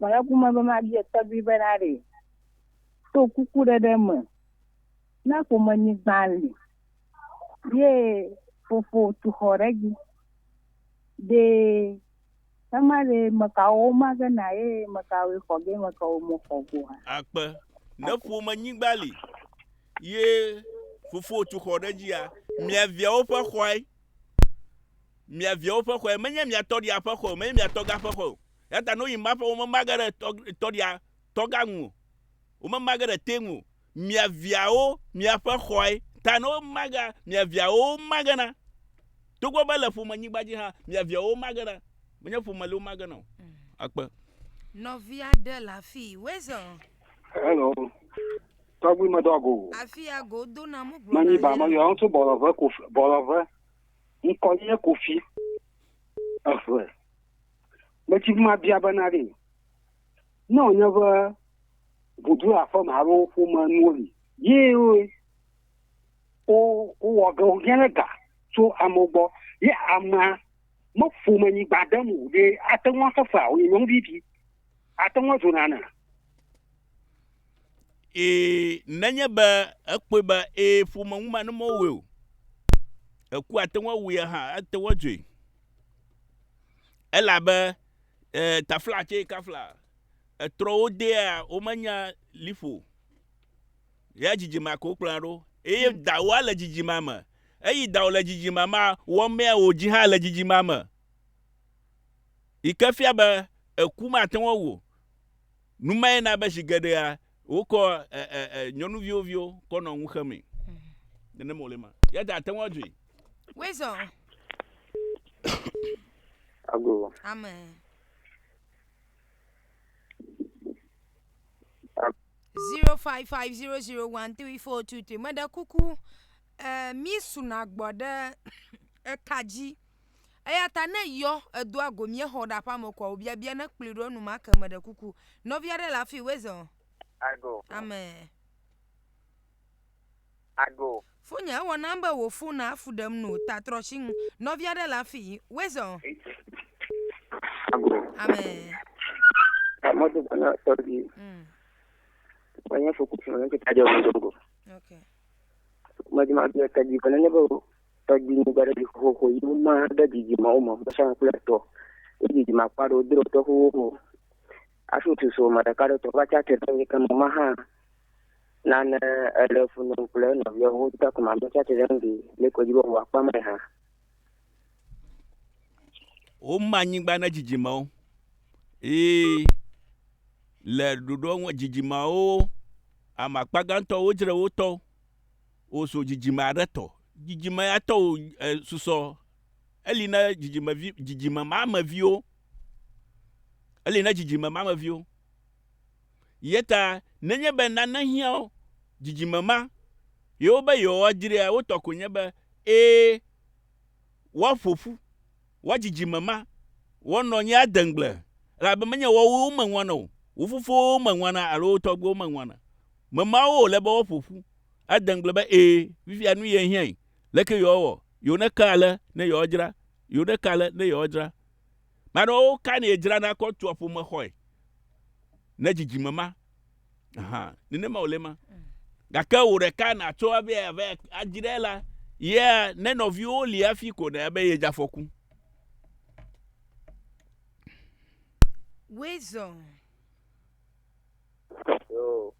Mele ku me be mabia tɔgbui be naɖee to kuku ɖeɖe me ne ƒomenyigba li ye fofo tu xɔ ɖe edzi. Ɖe ema ɖe mekawo woma ge na ye mekawoe xɔ ge mekawo mexɔ ge oa? Akpe. Ne ƒomenyigba li ye fofo tu xɔ ɖe edzia, mia viawo ƒe xɔe. Mia viawo ƒe xɔe. Menye mia tɔɖia ƒe xɔe o, menye mia tɔga ƒe xɔe o. Eya ta ne woyi map ƒe womema ge ɖe tɔɖia tɔga ŋu o. Womema ge ɖe te ŋu o. Mia viawo miaƒe xɔe ta ne woma gea, mia viawo woma ge na. Togbɔ be le ƒome nyigba dzi hã, mia viawo woma ge na. Menye ƒome li woma ge na o. Akpe. Nɔvi aɖe le afii. Weasel. Hello. Tɔgbi me dɔ go. Afi ya go do na mu gblɔ. Manyi ba ma yo ŋutsu bɔlɔve kofi bɔlɔve. Ŋkɔ nye kofi. Eve. Metsi ma bia be na ɖi. Ne wònye be ʋudu aƒeme alo ƒome nuwo li, ye wowɔ ge wonye ɖe ga tso amewo gbɔ, ye amea meƒome nyigba ɖem o ɖe ate ŋu axefe ao nye nyɔnuvi ɖi? Ate ŋu adzo nana? Ee, nenye be ekpɔe be ee ƒome ŋu ma ne mewɔe o, eku ate ŋu awui hã ate ŋu adzoe. Elabe eh, tafla tse kafla etrɔ wo dea womenya liƒo. Ya dzidzima ko kplɔa ɖo. Eye hmm. dawoa le dzidzima me. Eyi dawo le dzidzima ma wɔmea wò dzi hã le dzidzima me. Yi ke fia be eku mate ŋu wo. Numae na be zi geɖea Wokɔ ɛ, ɛ, ɛ, nyɔnuviwo viwo kɔ nɔ ŋu xemee. Nenem wòle ma. Ya ta àte ŋu adzɔe. Wezɔ. Ago. Ame. Zero five five zero zero one three four two three. Meɖe kuku, ɛ, mísuna gbɔ ɖe eka dzi. Eya ta ne yɔ edoa go míexɔ ɖe aƒea me koa wobia bia ne kplɔe ɖo enumake meɖe kuku. Nɔvi aɖe le afi wezɔ. I go. Amen. I go. Fonye ewɔ nam be wò fon na fu ɖem no ta trɔ tsi ŋu. Nɔvi aɖe le afi wezɔ. I go. Amen. Mɔto bana tɔbi. Mm. Wanya fokusi mwana kitadya wazongo. Okay. Majima bia tadi kana nebo. Tɔgbi nu gbaɖe ɖi xoxo yi woma ɖe dzidzimewo me gbesha kple etɔ. Yi dzidzime akpa ɖewo dro tɔ xoxo xoxo. Afi wotsi so me ɖeka ɖe tɔ va tsia tre ɖe nye keme ma hã. Nane ele fu ne kple enɔviawo wo ta kuma me tsia tre ɖe ŋdi le kɔ dzi be wòa kpa me hã. Woma nyigba ne dzidzimewo. Yi le ɖoɖo dzidzimewo amakpa gãtɔ wodzre wotɔwo. wòzu dzidzime aɖe tɔ. Dzidzime ya tɔ wò e, susɔ. Eli na dzidzime vi, dzidzime ma me viwo. Eli na dzidzime ma me viwo. Yeta nenye be nane hiã wo, dzidzime ma, yewo be yewoadzrea, wotɔ ko nye be, ee, woaƒo ƒu Wò dzidzime ma, wò nɔ nye adeŋgble, elabe menye woawoe wome ŋwana o, wo fofowo wome ŋwana alo wo tɔgbuiwo wome ŋwana. Mema wo wòle be woaƒo ƒu adeŋgble be, Ẽ, fifia nu ye hiãe. Leke yewoawɔ? Yewo neka ale ne yewoadzra, yewo neka ale ne yewoadzra. Maɖe wo ka ne yedzrana kɔ tua ƒomexɔe ne dzidzime ma. nenema wòle ma gake wò ɖeka nàtso ave ave adzi ɖe la yea ne nɔviwo li hafi ko ne ebe yedze afɔku. Wezɔ. Yoo.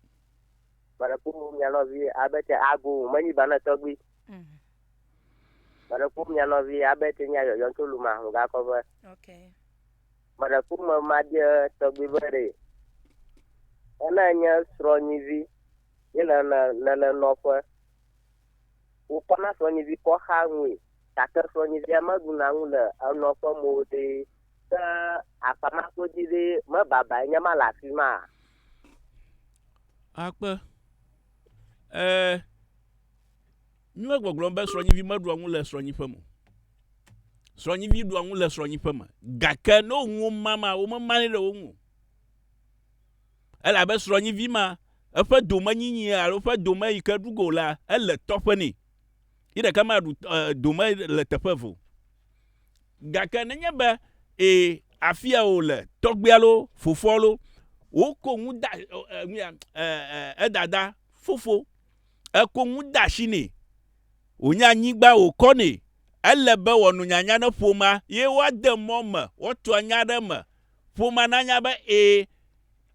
Baraku mu mia nɔvi abe te ago menyi bana tɔgbi. Mhm. Baraku mia nɔvi abe te nya yɔyɔ tso luma ho gakɔ be. Okay. Mɔɖekuma Maɖia tɔgbi be ɖe ena nye srɔ̃nyivi ye le na le le nɔƒe. Wokɔ na srɔ̃nyivi kɔ xa ŋui gake srɔ̃nyivia meɖu na ŋu le enɔ ƒe mo ɖe ke afama ko dzi ɖe me babae nye ma le afi ma. Akpe. E. Mímele gbɔgblɔm be srɔ̃nyivi meɖua nu le srɔ̃nyiƒe me o. Srɔ̃nyivi ɖua nu le srɔ̃nyiƒe me, gake ne wo nuwo ma ma, womemanɛ ɖe wo ŋu o. Elabe srɔ̃nyivi ma, eƒe domenyinyi alo eƒe dome yi ke ɖu go la, ele tɔƒe nɛ. Yi ɖeka maɖu dome le teƒe eve o. Gake nenye be ee, afia wòle, tɔgbuia loo, fofoa loo, woko nu da, nu ya, edada, fofo, Eko ŋu de asi nɛ. Wònye anyigba wòkɔ nɛ. Ele be wòano nyanya ne ƒomea ye woade mɔ eme woatu anya ɖe eme. Ƒomea nanya be ee,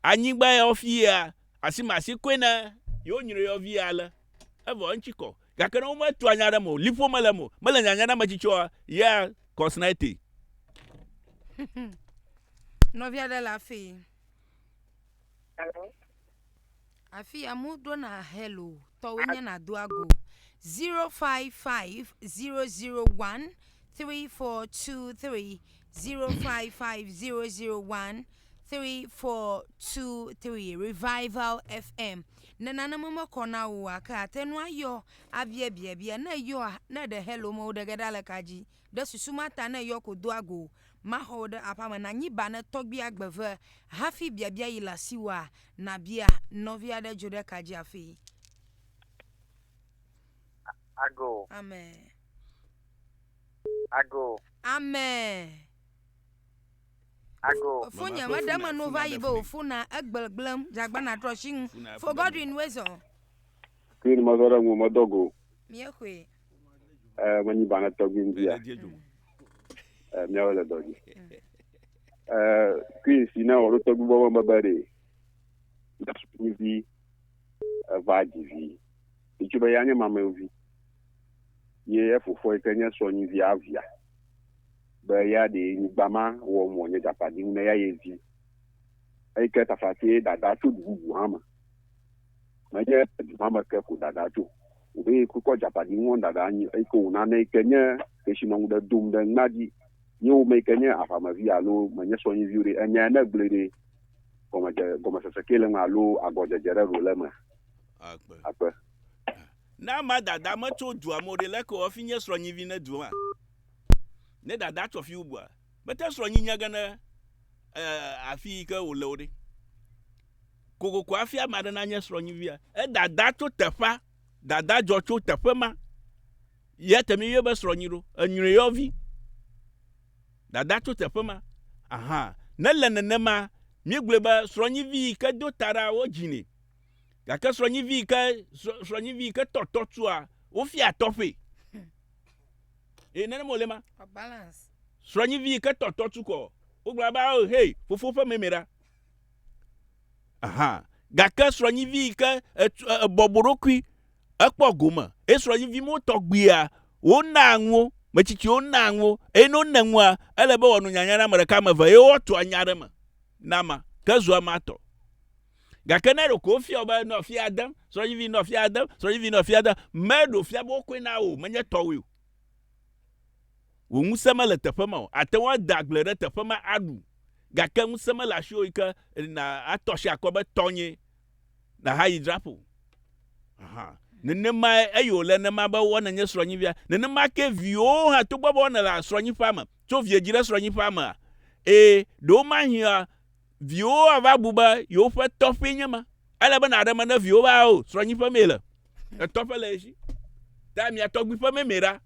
anyigba ya wofi yea, asimasi koe ne yewonyre yɔvia ale. Evɔ eŋuti kɔ. Gake ne wometu anya ɖe eme o, liƒo mele eme o, mele nyanya na ametsitsi oa, ya kɔsnae te. Nɔvi aɖe le afii. Afi amewo ɖona hello tɔwɔe nye nàdo ago zero five five zero zero one three four two three zero five five zero zero one three four two three revival fm ne naneme mekɔ na wò o gake àte ŋu ayɔ abiabiabia ne èyɔa ne ɖe hello me o ɖe ge ɖa le ka dzi. Ɖe susu ma ta ne yɔ ko doa go maxɔ wò ɖe aƒea me nànyi ba ne tɔgbia gbe ve hafi biabia yi le asiwòa? Nàbia nɔvi aɖe dzo ɖe ka dzi hafi. Ago. Ame. Ago. Ame. Ago. Fonye me ɖe me no va yi be wò fona egblegblem dzagbana trɔ si ŋu. Fo Godwin Wezɔ. Queen mazɔ ɖe ŋu medɔ go. Míexɔe. Eh, menyi ba ne tɔgbi ŋdi ya. Eh, míawo le dɔdzi. Eh, kui si ne wɔɖo tɔgbi bɔ me bebe ɖe. Na sukuvi eva dzi vi. Itsu be ya nye mamevi. Ye efofoa yi ke nye sɔnyi via via. Be ya ɖe nyigba ma wɔ mɔ nye gakpa di ne ya ye vi. Eyi ke tafati dada tso dububu hã me. menye du ma me ke ko ɖaɖa tso o be yi kukɔ Japani ŋɔ ɖaɖa anyi eyi ke wòna ne yi ke nye kesinɔ ŋu ɖe dom ɖe ŋna dzi ye wome yi ke nye aʋamevi alo menye sɔnyiviwo ɖe enya ya ne gblɔe ɖe gɔmedze gɔmesese ke le ŋu alo agɔdzedze ɖe ɖo le eme akpe akpe ne ama dada metso dua me o ɖe leke wòafi nye srɔ̃nyivi ne du ma ne dada tsɔ fi bubua mete srɔ̃nyi nya ge ne eh, afi yi ke wòle o ɖe kokoko hafi ame aɖe nanye srɔ̃nyivia. Edada tso teƒea, dada dzɔ tso teƒe ma. Ye te mi yɔ be srɔ̃nyi ɖo, enyre yɔvi. Dada tso teƒe ma. Aha, ne le nenema, mi gblɔe be srɔ̃nyivi yi ke do taɖa wo dzinɛ. Gake srɔ̃nyivi yi ke srɔ̃nyivi yi ke tɔtɔ tua, wofia tɔƒe. E nene mo le ma. Balance. Srɔ̃nyivi yi ke tɔtɔ tu kɔ, wo gblɔ be, "Oh, hey, fofo ƒe meme ɖa." Aha. Gake srɔ̃nyivi yi ke ebɔbɔ ɖokui, ekpɔ gome, eye srɔ̃nyivi mewo tɔgbuia, wonaa nuwo, metsitsiwo naa nuwo, eye ne wone nua, ele be wòano nyanya na ame ɖeka, ame eve, eye woatso anya aɖe me na ma, ke zua ma tɔ. Gake ne ɖeko wofia wò be, nɔ afia dem, srɔ̃nyivi nɔ afia dem, srɔ̃nyivi nɔ afia dem, meɖe wòfia be wokɔe na wò o, menye tɔwòe o. Wò ŋusẽ mele teƒe ma o, àte ŋu ada agble ɖe teƒe ma aɖu, Gake ŋusẽ mele asiwò yi ke nàtɔ asi akɔ be tɔnyee, nàhayi dzra ƒo. Aha, nenemae eye wòle ne ma be wɔ nenye srɔ̃nyivia. Nenema kee viwòwo hã, togbɔ be wonɔ le srɔ̃nyiƒea me, tso vie dzi ɖe srɔ̃nyiƒea mea? Ee, ɖewomahia viwòwo ava bu be yewoƒe tɔƒee nye ma. Ele be nàɖe me ne viwò be, Ao, srɔ̃nyiƒe mee le. Etɔƒe le ye si. Ta mia tɔgbiƒe mee mee ɖa.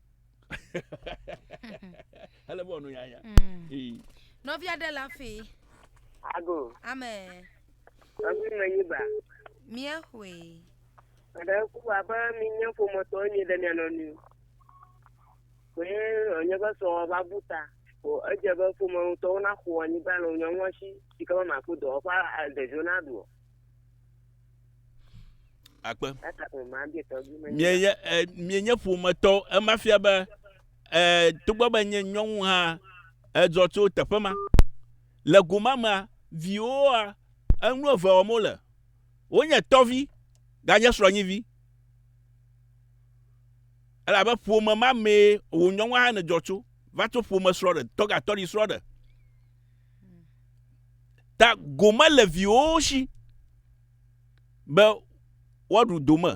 ele bɔ nu yaya. Mm. Ee. Nɔvia ɖe la fi. Ago. Amen. Ago me yi ba. Mie hui. Ada ku abe mi nye ƒometɔ nye ɖe mia nɔnu. Ko ye nye be sɔ va bu ta. Ko edze be ƒometɔwo na xɔ anyigba le nyɔnua si. Sika ma ko dɔ fa ɖeviwo na do. akpe mienye eh, mienye ƒometɔ ema fia be eh, togbɔ be nye nyɔnu hã edzɔ tso teƒe ma le goma mea viwoa enu eve wɔm wole wonye tɔvi ganye srɔ̃nyivi elabe ƒome ma mee wò nyɔnu hã ne dzɔ tso va tso ƒome srɔ̃ ɖe tɔgatɔɖi srɔ̃ ɖe Ta gome le viwòwo si be woaɖu dome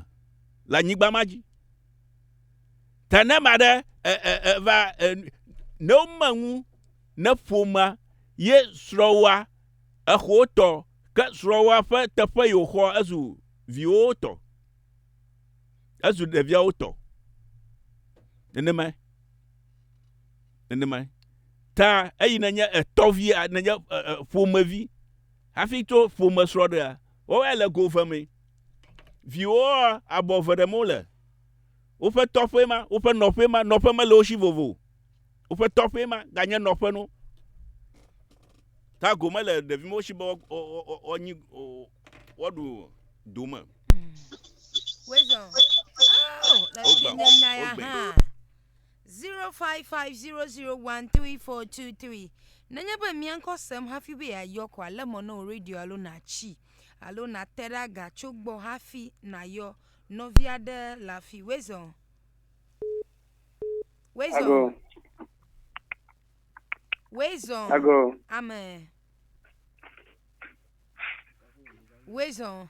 le anyigba ma dzi. Ta ne ame aɖe e, e, e, va e, ne wome ŋu ne ƒomea ye srɔ̃woa exɔ tɔ ke srɔ̃woa ƒe teƒe yi wòxɔ ezu viwòwo tɔ, ezu ɖeviawo tɔ. Nenemae. nenemae ta eyi nenye etɔvi nenye ƒomevi hafi tso ƒome srɔ̃ɖea wɔwɔe le go ve mee viwoa abɔ ve ɖem wole woƒe tɔƒe ma woƒe nɔƒe ma nɔƒe mele wo si vovo woƒe tɔƒe ma ganye nɔƒe no ta go mele ɖevi mewo si be wɔnyi wɔɖu dome Wezɔn. Oh, le Wogba. tsi ne nya ya Wogbe. hã. Zero five five zero zero one three four two three. Nenye be mia ŋkɔ sem hafi be yeayɔ ko ale mɔ na wò radio alo nàtsi alo nàte ɖe aga tso gbɔ hafi nàyɔ nɔvi aɖe le afi. Wezɔ. Wezɔ. Ago, Wezɔ. ago, Amen. Wezɔ.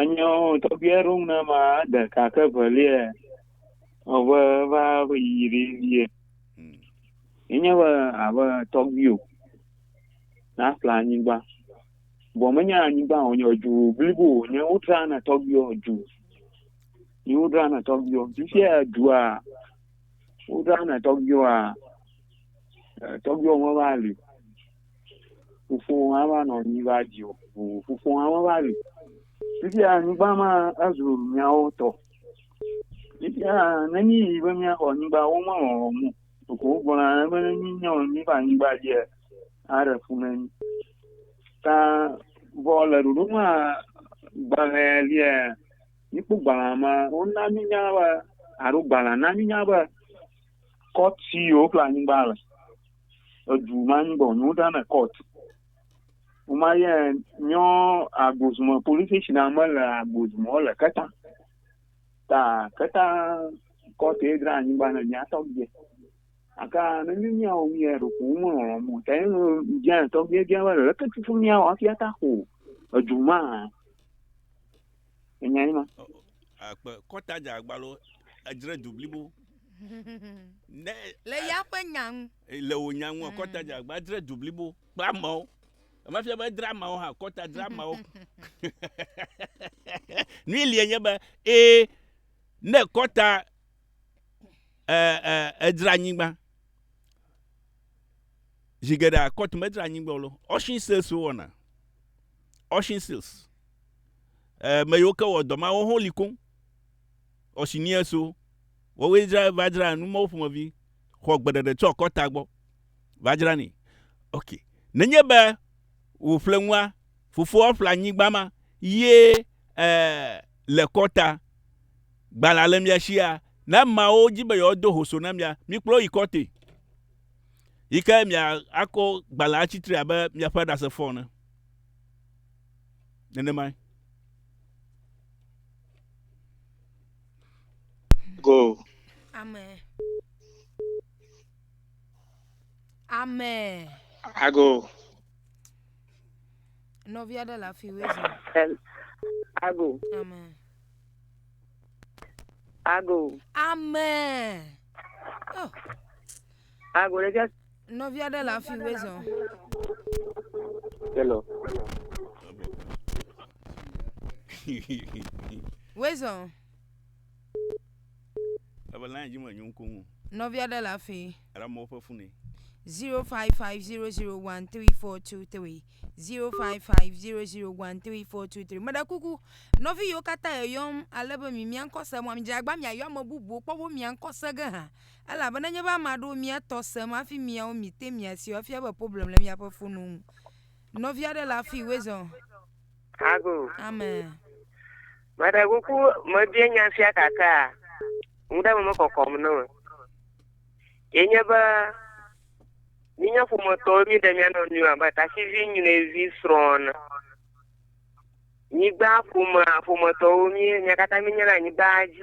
Enyo tɔgbi aɖe ŋu na ma ɖeka ke velia ɔve va ƒe yi ɖe vie. Hmm. Enye be abe tɔgbi o. Na fla anyigba. Bɔ menye anyigba o, nye ju blibo o, nye wotra na tɔgbi o ju. Nye wotra na tɔgbi o. Ju sia dua wotra na tɔgbi o a tɔgbi o me va li. Fofowò hã va nɔ anyi va dzi wò. Ŋu fofowò hã va li. Fifia anyigba ma ezu miawo tɔ. Fifia nenyi yi be míaxɔ anyigba womelɔ̃ wɔm o. Ɖeko wogblɔna be ne míenye míeƒe anyigba dzia, aɖe fu na mí. Ta vɔ le ɖoɖo ma gbalẽa lia, míkpɔ gbalẽa ma wona mínya be alo gbalẽa na mínya be kɔti yewoƒle anyigba le. edu ma nyi bɔ nyu da na court o ma ye nyɔ agozuma police station na me le agozuma le keta ta keta court e dra nyi ba na nya tɔ bie aka ne nyu nya o mi e ro ko mo lo mo ta ye no nya tɔ bie bie ba le ke tutu nya wa fia ta ko edu ma Enya yi ma. Akpe kɔta dza agbalo edzre du blibo. Ne le ya ƒe nya ŋu. Le wò nya ŋu kɔta dza agba edzre du blibo kple amewo. Emefia be edre amewo hã kɔta dre amewo. Nui lie nye be ee ne kɔta edzre anyigba zi geɖe akɔtu medzre anyigba o lo. Ocean sales wɔna. Ocean sales. eh, me yiwo ke wɔ dɔ ma, woho li koŋ. Ɔsiniɛ so, wɔwoe dzra va dzra nu mɔwo ƒomevi, xɔ gbeɖeɖe tsɔ kɔta gbɔ, va dzra ni. Ok, nenye be wò ƒlenua, fofoa ƒle anyigba ma, ye eh, le kɔta, gbalẽa le mia shia, ne ameawo dzi be yewo do hoso na mia, mikplɔ yi kɔte. Yi ke mia akɔ gbalẽa tsitre abe miaƒe ɖasefɔ ne. nenemae. Go. Amen. Amen. Ago. Nɔvia ɖe le afi wezi. Ago. Amen. Ago. Amen. Oh. Ago ɖeka. Nɔvi aɖe le afi wue zɔ. Hello. Wue zɔ. Ebe lan dzi me nyo ŋkɔ ŋu. Nɔvi aɖe le afi. Era mɔ ƒe fune. 0550013423 0550013423 meɖe kuku nɔvi yiwo katã yeyɔm ale be mi miankɔ se mɔ midzagba miayɔ ame bubuwo kpɔ be miankɔ se ge hã Elabena nye be ame aɖewo mia tɔ sem hafi miawo mi te mia si afia be problem le miaƒe fono ŋu. Nɔvi aɖe le afi wezɔ. Ago. Amen. Meɖe kuku mebie nya sia kakaa. Ŋu ɖe me mekɔkɔm ne me. Ye nye be mi nye ƒometɔwo mi ɖe mia nɔ nua be tasivi nyuie vi srɔ̃na. Nyigba ƒomea ƒometɔwo mi mia katã mi nye le anyigba dzi.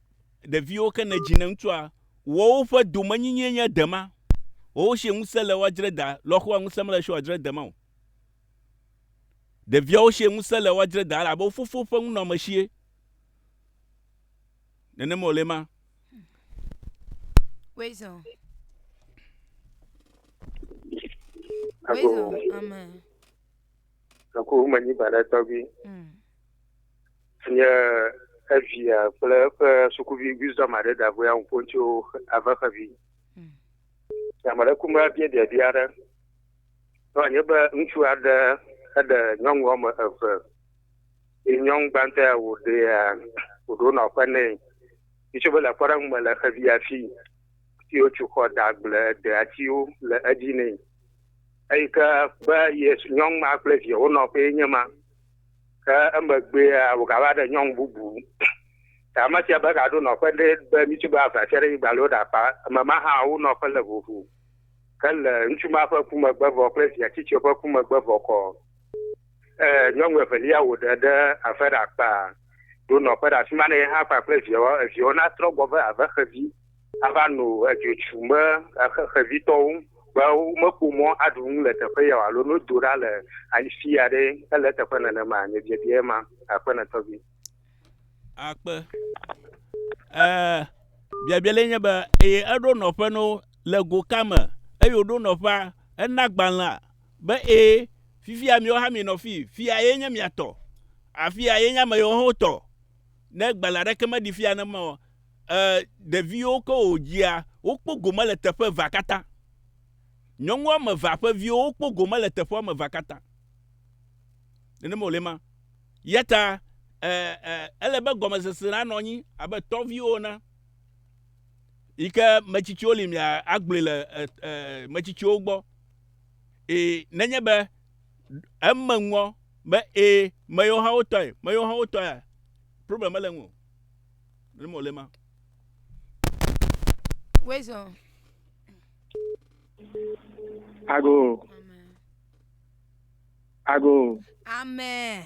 Ɖeviwo ke nedzi ne ŋutsua wɔwo ƒe domenyinyie nye dema. Wɔwo sie ŋusẽ le woadzre da lɔxoa ŋusẽ mele sie woadzre dema o. Ɖeviawo sie ŋusẽ le woadzre da elabe wo fofo ƒe ŋunɔame sie. Nenema wòle ma. Wezɔ. Wezɔ. Amen. Eku menyi ba ɖe tɔgbi. Mm. Nye evia kple eƒe sukuvi wisdom aɖe da ŋu ya ŋu ƒom tso ave xevi. Mm. Ame ɖe ku me bia biabia aɖe. Nɔ nye be ŋutsu aɖe eɖe nyɔnu wɔme eve. Ye nyɔnu gbãtɔ ya wòɖe ya wòɖo nɔ ƒe nɛ. Yitso be le kpɔɖeŋu me le xevia fi. Ti wotso xɔ da gble de atiwo le edzi nɛ. eyi ke be Yesu nyɔnu ma kple via wonɔƒee nye ma. Ke emegbea wògava ɖe nyɔnu bubu. Ke ame sia be gaɖo nɔƒe ɖe be ŋutsu be ava tsia ɖe yi gbalo ɖe akpa. Eme ma hã wo nɔƒe le vovo. Ke le ŋutsu ma ƒe ku megbe vɔ kple via tsitsia ƒe ku megbe vɔ kɔ, eh, nyɔnu evelia wòɖe ɖe ave ɖe akpa ɖo nɔƒe ɖe afi ma ne ye hã kpakple viawo, eviawo natrɔ gbɔ ve ave xevi. ava no edzo tsu be xexevitɔwo be womekpɔ mɔ aɖu nu le teƒe ya o alo ne wodo ɖa le afi aɖe ele eteƒe nenema nye biabia ye ma aƒenɔtɔ vi. Akpe. E, biabia le nye be eye eɖo nɔƒe no le go ka me eye woɖo nɔƒea ena gbalẽa be ee fifia miwo hã minɔ fi fia ye nye mia tɔ afia ye nye ame yewo hã wotɔ. ne gbalẽ aɖeke meɖi fia ne ma o, e, ɖeviwo ke wòdzia, wokpɔ gome le teƒe evea katã. Nyɔnu woame evea ƒe viwo wokpɔ gome le teƒe woame evea katã. Nenema wòle ma. Yata e, e, ele be gɔmesese la nɔ anyi abe tɔviwo na. Yi ke metsitsiwo li mia agblɔe le e, e, metsitsiwo gbɔ. E, nenye be Eme ŋɔ be ee meyewo hã wotɔe, meyewo hã wotɔe a problem mele ŋu o. Ne mo le ma. Wezo. Ago. Ago. Amen.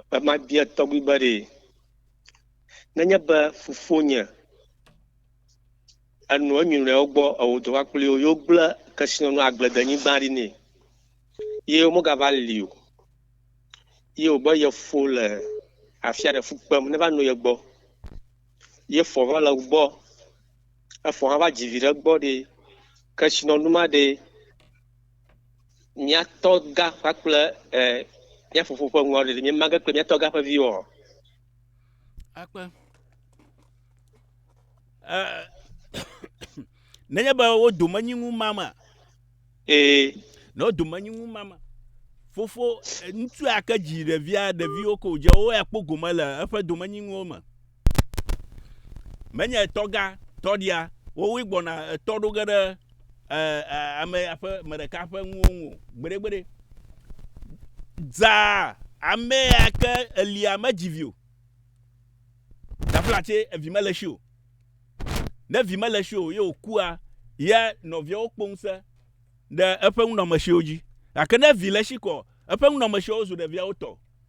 Ekema bia tɔgbi be ɖe nenye be fofonye enɔ enyinɔewo gbɔ ewɔ dɔ va kpli wo yewo gblẽ kesinɔnu agbledenyigba ɖi nɛ ye womegava li o ye wòbe ye fo le afia ɖe fu kpem neva no ye gbɔ ye fɔ va le gbɔ efɔ hã va dzi vi ɖe gbɔ ɖi kesinɔnu ma ɖi mía tɔ gã kpakple e, mía fofo ƒe ŋua ɖeɖi míema ge kple mía tɔ gã ƒe viwo o. Akpe. Eh, nenye be wo dome nyi ŋu mama. Ee. Ne wo dome nyi ŋu mama. Fofo eh, ŋutsu ake dzi ɖevia ɖeviwo ko dze wo ya kpɔ gome le eƒe domenyinuwo me. menye etɔga tɔɖia wowoe gbɔna etɔ ɖo ge ɖe ame ƒe me ɖeka ƒe nuwo ŋu gbeɖegbeɖe dzaa ame ya ke elia medzi vi o gafla tse evi mele si o ne vi mele si o ye wòkua ya nɔviawo kpɔ ŋusẽ ɖe eƒe nunɔamesiwo dzi gake ne vi le si kɔ eƒe nunɔamesiwo zu ɖeviawo tɔ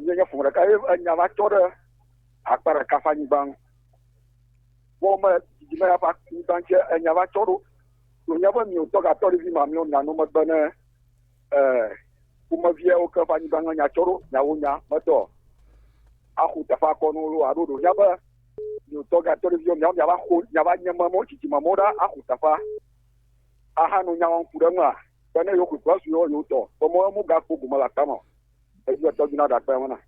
Nye nye ƒome ɖeka ye enya va tsɔ ɖe akpa ɖeka ƒe anyigba ŋu. Wo me didi me ya ƒe anyigba ŋu enya va tsɔ ɖo. Ɖo nya be miwo tɔ gatɔ ɖe vi ma miwo nanu megbe ne ƒomeviawo ke ƒe anyigba ŋu enya tsɔ ɖo nya wo nya metɔ. Axu teƒe akɔ no lo aɖo ɖo nya be miwo tɔ gatɔ ɖe viwo miawo mia va xo nya va nye memo tsitsi memo ɖa axu teƒe. Aha no nya wɔn ku ɖe ŋua. Bene yewo kukua su yewo yewo tɔ. Bemo emu gakpo gome la tama. Edzi etɔ dzi na ɖakpe ŋu na.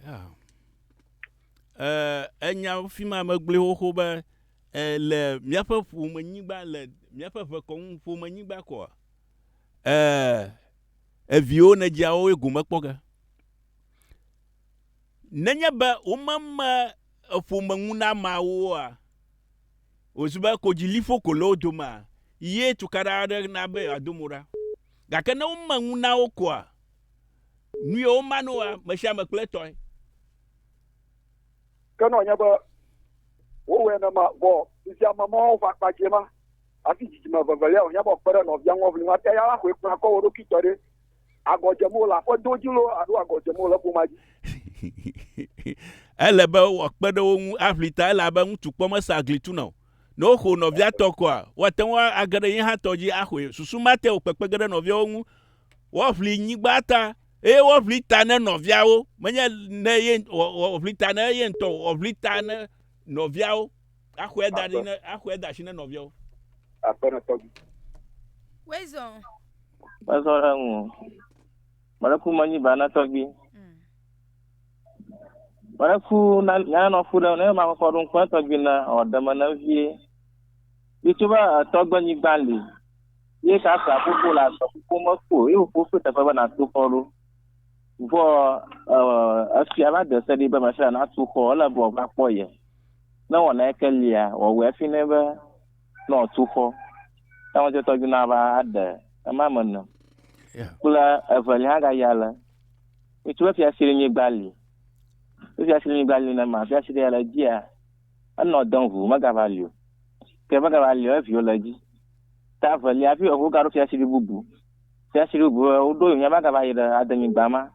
Yeah. Eh, enya fi ma megblẽ xoxo be eh, le míaƒe ƒomenyigba le míaƒe ʋekɔnu ƒomenyigba kɔa eh, eviwo nedziawo ye gome kpɔ ge nenye be womeme eƒomeŋunamawoa wòzu be kodziliƒo ko le wo domea, ye tukaɖa aɖe na be yeado mo ɖa. Gake ne wome ŋu na wo koa, nu ye womane woa, mesiame kple etɔe. Ke ne wònye be wowɔe nenema vɔ fifia meme woawo ƒe akpa dzie ma, hafi dzidzime evevelia wòhiã be wòkpe ɖe nɔvia ŋu woaʋli nu ate ya la koe kplɔa kɔ wo ɖokui tɔ ɖe. agɔ dzem wole, aƒedo dzi loo alo agɔ dzem wole ƒomea dzi. Ele be wòakpe ɖe wo ŋu aʋli ta elabe ŋutsu kpɔ mesea gli tuna o. Ne woxo nɔvia tɔ koa, woate ŋu age ɖe ye hã tɔ dzi axɔe. Susu ma te wòkpekpe ge ɖe nɔviawo ŋu woaʋli nyigba ta eye woaʋli ta ne nɔviawo, menye ne ye, woaʋli ta ne ye ŋutɔ o, woaʋli ta ne nɔviawo. Axɔe da ɖi ne axɔe da asi ne nɔviawo. Aƒenɔtɔ bi. Wezɔ. Wezɔ ɖe ŋu. Mɔɖeku manyi ba na tɔgbi. Mm. Mɔɖeku na nyanɔ fu ɖe ne ma kɔkɔ ɖo ŋkpɔ tɔgbi na ɔ deme na vie. Bitso ba tɔgbe nyigba li. Ye ka sa koko la sɔ koko me ko ye wo koko teƒe be na to kɔɖo. Vɔ ɔ efia va de se ɖi be ma fia na to kɔ le bɔ va kpɔ ye. Ne wɔ na eke lia, wɔ wɛ fi nɛ be nɔ tu xɔ. Ta wɔ jɔtɔ ju na va aɖe ema me nɔ. Kple eve li ha ga ya le. Mitu be fia siri nyi gbali. Be fia siri nyi gbali ne ma fia siri ya le jia. Enɔ dɔn hu me ga va lio. Ke ve ga va lio evi wo le ji. Ta ve lia vi wo ga ro fia siri bubu. Fia siri bubu wo do yo nya ba ga va yi le adenyi gba ma.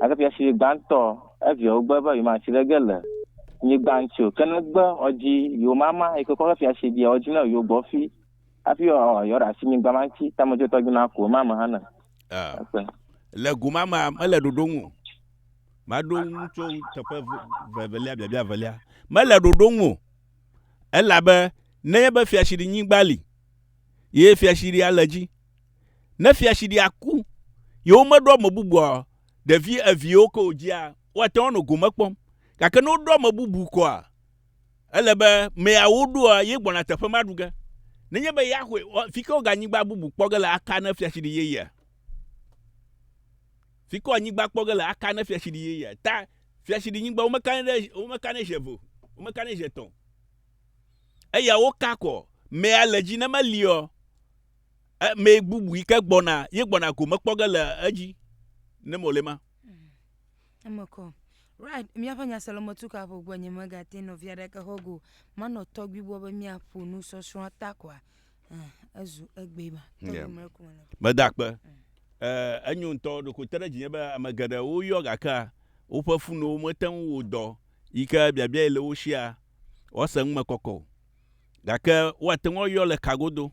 Gake fiafi gbãtɔ eviawo gbe be yewomatsi ɖe ge le nyigba ŋuti o, ke ne gbe woadzi yewo mama yi ke kɔ ke fiafi bia woadzi ne yewo gbɔ fi hafi yewoaɖe asi nyigba ma ŋuti, ta medzotɔ dzi ma ko ema me hã ne. Akpe. Le go ma mea, mele ɖoɖo ŋu o. Maɖo ŋu tso teƒe vevelia, biabia velia. Mele ɖoɖo ŋu o. Elabe nenye be fiafiɖinyigba li, ye fiafiɖia le dzi. ne fiaɖuɖia ku, yewomeɖo ame bubua o, ɖevi eveawo ke wòdzia, woate ŋu anɔ gome kpɔm. Gake ne woɖo ame bubu koa, ele be mea woɖoa, ye gbɔna teƒe ma ɖu ge. Nenye be ya xɔe, fi ke woga anyigba bubu kpɔ ge le aka ne fiaɖuɖi yeyea? Fi ke anyigba kpɔ ge le aka ne fiaɖuɖi yeyea? Ta fiaɖuɖinyigba womekanɛ ɖe, womekanɛ zi eve o, womekanɛ zi etɔ̃ o. Eya woka kɔ, mea le dzi ne meliɔ, ame bubu yi ke gbɔna ye gbɔna gome kpɔ ge le edzi ne mole ma. Eme kɔ. Right, míaƒe nyaselɔmetu kaƒo gbɔ nye megate nɔvia ɖeke xɔ go. Manɔ tɔgbi gbɔ be míaƒo nu sɔsrɔ̃a ta kɔa. Ezu egbe ma. Tɔgbi mre kuma le. Meda kpe. Eh, enyo ŋutɔ ɖoko te ɖe dzinye be ame geɖewo yɔ gakea woƒe funuwo mete ŋu wo dɔ yi ke biabiae le wo shia woase ŋu me kɔkɔ o. Gake woate ŋu ayɔ le ka godo.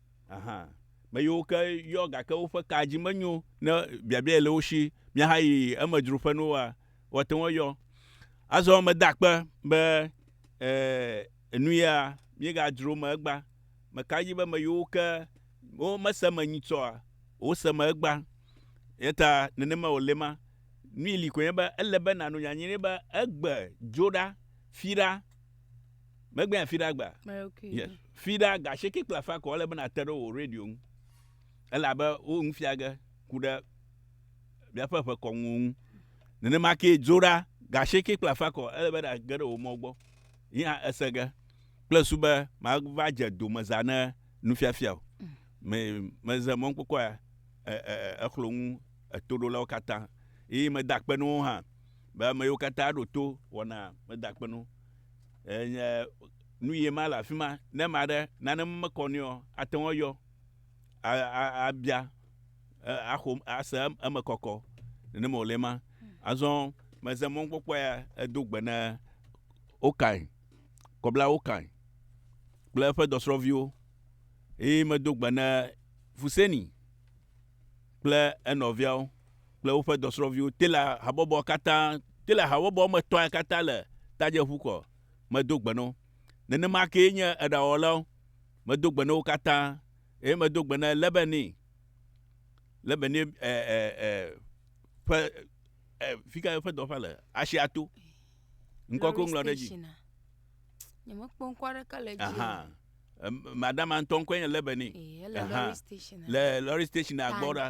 Aha, me yiwo ke yɔ gake woƒe kaa dzi menyo ne biabiae le wo si míahayi emedzro ƒe nuwoa, woate ŋu ayɔ. Azɔ meda akpe be e, nu ya míegadzro me egbea. Meka edzi be me yiwo ke womese me nyitsɔa, wose me egbea. Eyata nenema wòle ma. Nui li koe nye be ele be nàno nyanyui be egbe dzo ɖa, fi ɖa. Megbea fi ɖa gbea. Okay. Yes. Fi ɖa ga sheke kple afa ko ele bena te ɖe wo radio ŋu. Ele abe wo ŋu fia ge ku ɖe bia fe fe kɔŋu ŋu. Nene ma ke dzo ɖa ga sheke kple afa ko ele bena ge ɖe wo mɔ gbɔ. Yina ese ge kple su be ma va je do me za ne nu fia fia o. Mm. Me me ze mɔ kpokɔ ya e e e eklo ŋu eto ɖo la wo kata. Yi me da kpe no ha be me yo kata ɖo to wɔna me da kpe no. Enye nu ye ma le afi ma. Ne ame aɖe nane mekɔ nɛ o, ate ŋu ayɔ abia axo ase eme kɔkɔ. Nenema wòle ma. Azɔ meze mɔnukpɔkpɔ ya edo gbe ne Okain, Kɔbla Okain kple eƒe dɔsrɔ̃viwo eye medo gbe ne Fuseni. kple enɔviawo kple woƒe dɔsrɔ̃viwo te le habɔbɔ katã, te le habɔbɔ me tɔ̃e katã le tadzeƒu kɔ. Medo gbe na wo. Nenema kee nye eɖawɔlawo. Medo gbe na wo katã. Eye medo gbe na Lebeni, Lebeni ɛ, ɛ, ɛ, ƒe, ɛ, fi ka eƒe dɔwɔƒea le? Asia to. Ŋkɔ ke woŋlɔ ɖe edzi. Lɔri stationa. Nyemekpɔ ŋkɔ aɖeke le edzi o. Ahan. madama ŋutɔ ŋkɔe nye lebe ni le lɔri station agbɔ ɖa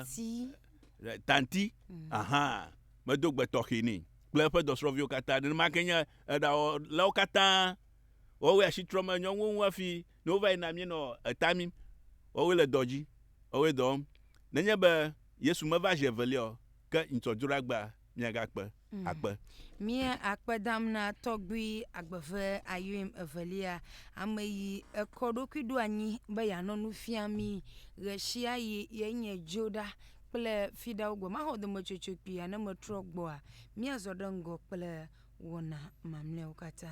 tanti mm. ahan medo gbe tɔxɛ ni kple eƒe dɔsrɔ̃viwo katã nenema ke nye eɖawɔlawo katã wɔwɔ asi trɔ me nyɔnuwo ŋu hafi ne wova yina mienɔ eta mi wɔwɔ le dɔ dzi wɔwɔ dɔ wɔm nenye be yesu meva zi evelia o ke ŋutsɔdzroɖagba miagakpe akpe. Mía akpe dam na tɔgbui agbeve Ayoim evelia, ame yi ekɔ ɖokui ɖo anyi be yanɔ nu fia mi ɣeshiayi ye nye dzo ɖa kple fiɖawo gbɔ. Maxɔ dometsotso kpuia ne metrɔ gbɔa? Míazɔ ɖe ŋgɔ kple wɔna mamleawo katã.